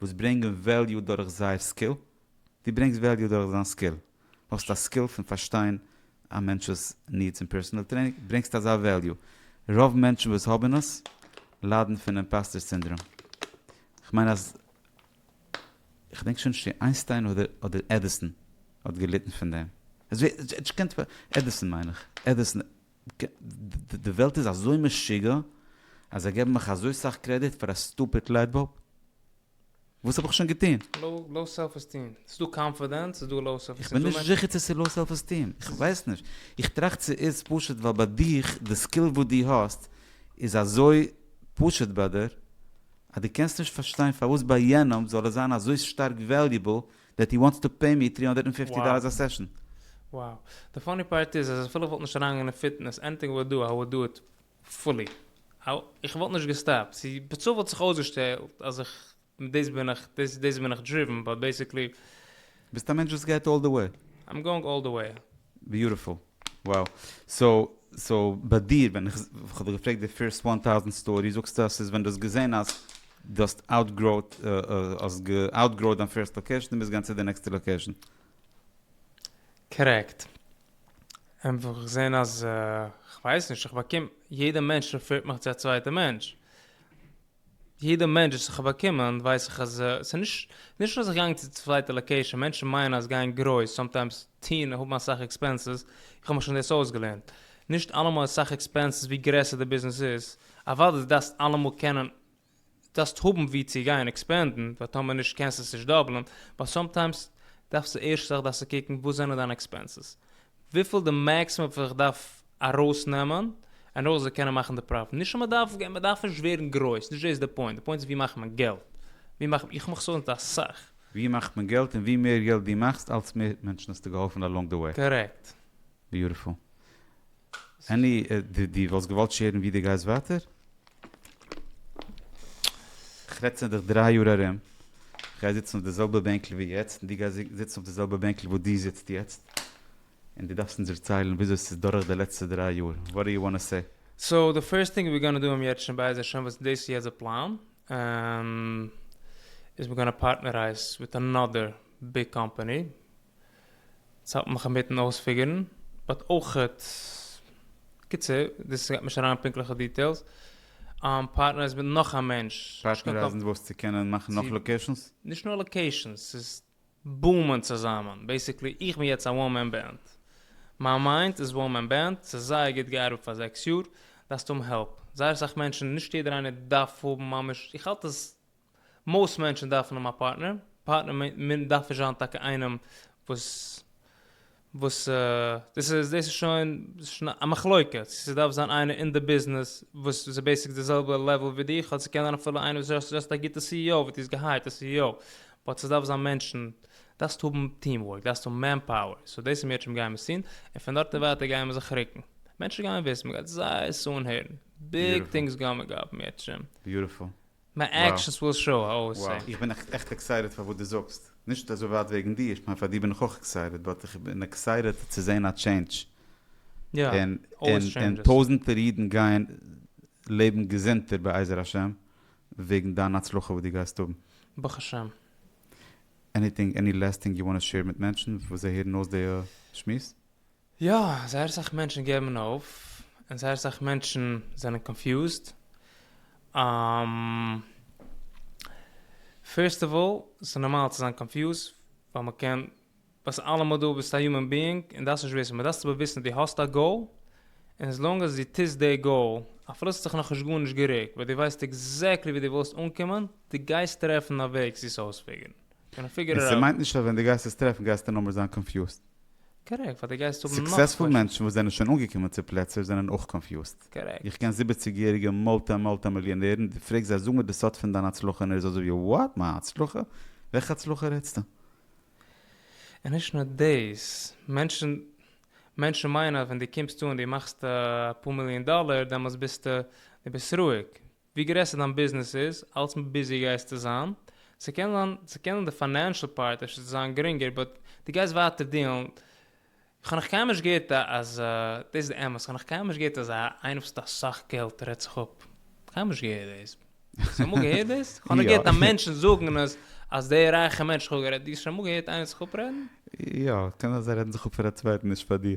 וואס ברענגען וועליו דורך זייער סקיל, דו ברענגסט וועליו דורך דיין סקיל, האסט א סקיל פון פארשטיין א מענטש'ס נידס אין פערסאנעל טרעינינג, ברענגסט אזא וועליו, רוב מענטשן וואס האבן עס ליידן פון אימפאסטער סינדראם, כ'מיין אז כ'דענק שוין נישט צו איינסטיין אדער אדער עדיסאן האט געליטן פון דעם, עדיסאן מיין איך, עדיסאן. די וועלט איז אזוי משוגע אז זיי געבן מיך אזוי סאך קרעדיט פאר א סטופיד לייט באלב? וואס האב איך שוין געטון? לאו סעלף עסטיעם. ס'איז דא קאנפידענס, ס'איז דא לאו סעלף עסטיעם. איך בין נישט זיכער צו ס'איז לאו סעלף עסטיעם. איך ווייס נישט. איך טראכט ס'איז פשוט ווייל ביי דיך, די סקיל וואס דו האסט, איז אזוי פשוט ביי דיר, אז דו קענסט נישט פארשטיין פארוואס ביי יענעם זאל עס זיין אזוי שטארק וועליובל דעט הי וואנטס טו פעי מי טרי הונדערט ענד פיפטי דאללערס א סעשאן. Wow. די פאני פארט איז אז אפילו איך וואלט נישט אריינגעגאנגען אין פיטנעס ענטער וואו דא, איי וואלד דא איט פולי. איך וואלט נישט געסטאפט. סי בצו וואלט זיך אויסגעשטעלט אז איך מיט דאס בין איך דאס דאס בין איך דריווען באט בעסיקלי. ביסט א מענטש וואס גייט אלל די וועי. איים גאוינג אלל די וועי. ביוטיפול. וואו, סאו סאו ביי דיר ווען איך האב דיך געפרעגט די פירסט וואן טאוזענט סטארי זאגסטו אז ס'איז ווען דו האסט געזען אז דו האסט אוטגראוד האסט אוטגראוד דיין פירסט לאקעישן און ביסט געגאנגען צו די נעקסטע לאקעישן. קארעקט. און וואס איך זען אז כ'ווייס נישט איך באקום יעדע מענטש רעפירט מיך צו א צווייטע מענטש. יעדע מענטש וואס איך האב באקומען ווייס איך אז סאיז נישט נישט אז איך גאנג צו צווייטע לאקעישן מענטשן מיינען אז גיין גרויס סאמטיימס טוהן האבן אסאך עקספענסעס איך האב מיך שוין דאס אויסגעלערנט נישט אלעמאל איז סאך עקספענסעס ווי גרעסער די ביזנעס איז אוודאי די דארפסט אלעמאל קענען דארפסט האבן ווי צו גיין עקספענדן ווייל טאמער נישט קענסטו עס נישט דאבלען באט סאמטיימס דארפסטו ערשט זאך דארפסטו קוקן וואס זענען דיינע עקספענסעס וויפיל די מעקסימום וואס איך דארף ארויסנעמען און אויך זיי קענען מאכן די פראפיט נישט אז מ'דארף גיין מ'דארף נישט ווערן גרויס נישט דאס איז די פוינט די פוינט איז ווי מאכט מען געלט ווי מאכט מען איך מאך סאליס מיט אסאך ווי מאכט מען געלט און ווי מער געלט דו מאכסט אלץ מער מענטשן האסטו געהאלפן אלאנג די וועי. קארעקט. ביוטיפול. עני די די וואלסט געוואלט שערן ווי די גייסט ווייטער? איך רעד צו דיך דריי יאר ארום, איך גיי זיצן אויף די זעלבע בענקל ווי יעצט און דו גייסט זיצן אויף די זעלבע בענקל וואו דו זיצט יעצט. און דו דארפסט אונז דערציילן וויאזוי עס איז דורך די לעצטע דריי יאר, וואט דו יו וואנט טו סעי? סאו די פירסט טינג ווי גאנא דא האבן יעצט שוין בעז השם וואס דאס איז יעצט די פלאן איז מיר גאנא פארטנערייז וויט אנאדער ביג קאמפעני צו העלפן מיך אינמיטן אויספיגערן באט אויכעט קיצור דאס גייט נישט אריין אין פונקטליכע דיטעילס פארטנערייז מיט נאך א מענטש. פארטנערייזן וואס צו קענען מאכן נאך לאקעישאנס? נישט נאר לאקעישאנס ס'איז בומען צוזאמען, בעסיקלי איך בין יעצט א וואן מען בענד, מיין מיינד איז וואן מען בענד, ס'איז זייער גוט געארבעט פאר זעקס יאר, דארפסט האבן העלפ, זייער אסאך מענטשן, נישט יעדער איינער דארף האבן ממש, איך האלט אז מאוסט מענטשן דארפן האבן א פארטנער, פארטנער דארף נישט זיין טאקע איינעם וואס וואס דאס איז דאס איז שוין א מחלוקה צו ס'דארף זיין איינער אין די ביזנעס וואס איז בעיסיק די זעלבע לעוועל ווי דיך אדער ס'קען זיין אפילו איינער וואס איז א גוטע סי אי או וואס דו האסט געהייערט א סי אי או באט ס'דארף זיין מענטשן דארפסט האבן טיעם ווארק דארפסט האבן מען פאוער סאו דאס איז מיר עטשעם גיימער סין און פון דארט און ווייטער גייען מיר זיך רוקן מענטשן גייען וויסן מ'גייט זייער סאאן הערן ביג טינגס גאמען גאפ מיר עטשעם. ביוטיפול. מיין עקשנס וויל שאו האו אי סעיף. איך בין עכט עקסייטעד פאר וואס דו זאגסט, נישט אזוי ווייט וועגן דיר, איך מיין פאר דיר בין איך אויך עקסייטעד, באט איך בין עקסייטעד צו זען א טשעינדזש, און טויזענטער אידן גייען לעבן געזונטער בעזר השם וועגן דיין הצלחה וואס דו גייסט האבן. ברוך השם. עניטינג עני לעסט טינג יו וואנט טו שעיר מיט מענטשן וואס זיי הערן אויס די שמועס? יא, זייער אסאך מענטשן געבן אויף, און זייער אסאך מענטשן זענען קאנפיוזד. פירסט אוו אלל, ס'איז נארמאל צו זיין קאנפיוזד, ווייל מ'קען, ביסט אלעמאל דא, ביסט א יומען ביאינג, און דארפסט נישט וויסן, מען דארפסט אבער וויסן אז דו האסט א גאול, און עס לאנג עס דו טוסט די גאול, אפילו ס'האט זיך נאכנישט גארנישט גערוקט, ווען דו ווייסט עקזעקטלי ווי דו ווילסט אנקומען, דו גייסט טרעפן א וועג צו עס אויספיגערן. און ס'מיינט נישט אז ווען דו גייסט עס טרעפן גייסטו נאכמער זיין קאנפיוזד. קארעקט, ווייל די גייסט האבן נאך קוועשענס. סוקסעספול מענטשן וואס זענען שוין אנגעקומען צו פלעצער זענען אויך קאנפיוזט. קארעקט. איך קען זיבעציג יעריגע מולטי מולטי מיליאנערן, די פרעגסט זיי זאג מיר די סוד פון דיין הצלחה און ער איז אזוי ווי וואט? מיין הצלחה? וועלכע הצלחה רעדסטו? און נישט נאר דאס, מענטשן מענטשן מיינען אז ווען די קומסט אן די מאכסט אפאר מיליאן דאלער דעמאלטס ביסטו די ביסט רואיג, ווי גרעסער דיין ביזנעס איז, אלץ מער ביזי גייסטו זיין. ס'קען זיין, ס'קען די פיינענשעל פארט אפשר צו זיין גרינגער, באט דו גייסט ווייטער דיעלן. כ'האב נאך קיינמאל נישט געהערט א אז, דאס איז די אמת, כ'האב נאך קיינמאל נישט געהערט אז א איינער וואס האט אסאך געלט רעדט זיך אפ. קיינמאל נישט געהערט דאס. האסט אמאל געהערט דאס? כ'האב נאר געהערט א מענטשן זאגן אז אז דער רייכער מענטש כ'האב גערעדט, דו האסט שוין אמאל געהערט איינער זיך אפרעדן? יא, קען זיין אז זיי רעדן זיך אפ פאר א צווייטן, נישט פאר דיר.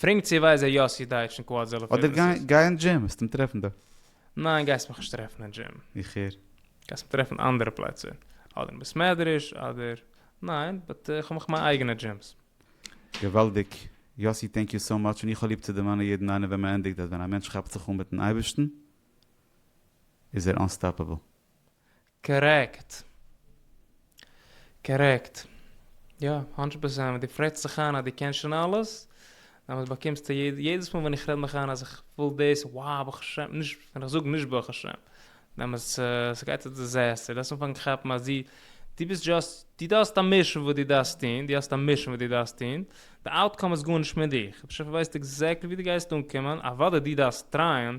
פרענק צו ווייז ער יאסי דייטש און קוואד זעלער אדער גיי פערעסעס. גיי אין דזשים וועסט אים טרעפן דארט. ניין גייסט מיך נישט טרעפן אין דזשים. איך הער. גייסט מיך טרעפן אנדערע פלעצער. אדער אין בית מדרש אדער. ניין באט איך האב מיך מיין אייגענע דזשימס. געוואלדיג. יאסי טענק יו סאו מאטש און איך האב ליב צו דערמאנען יעדן איינעם ווען מען ענדיגט אז ווען א מענטש כאפט זיך אן מיטן אייבערשטן איז ער אנסטאפעבל. קארעקט. קארעקט. יא, האנדרעט פערסענט. דו רעדסט זיך איין אז דו קענסט שוין אלעס, דעמאלטס באקומסטו יעדע, יעדעס מאל ווען איך רעד מיך איין אז איך וויל דאס, וואו, ברוך השם, נישט, ווען איך זאג נישט ברוך השם, דעמאלטס ס'גייט א דיזעסטער, דארפסט אנפאנגען כאפן אז דו, דו ביסט דזשאסט, דו דארפסט א מישן וואס דו דארפסט טון, דו האסט א מישן וואס דו דארפסט טון, די אוטקאם איז גארנישט מיט דיך, בשפע ווייסט עקזעקטלי וואו דו גייסט אנקומען, אוודאי דו דארפסט טרייען,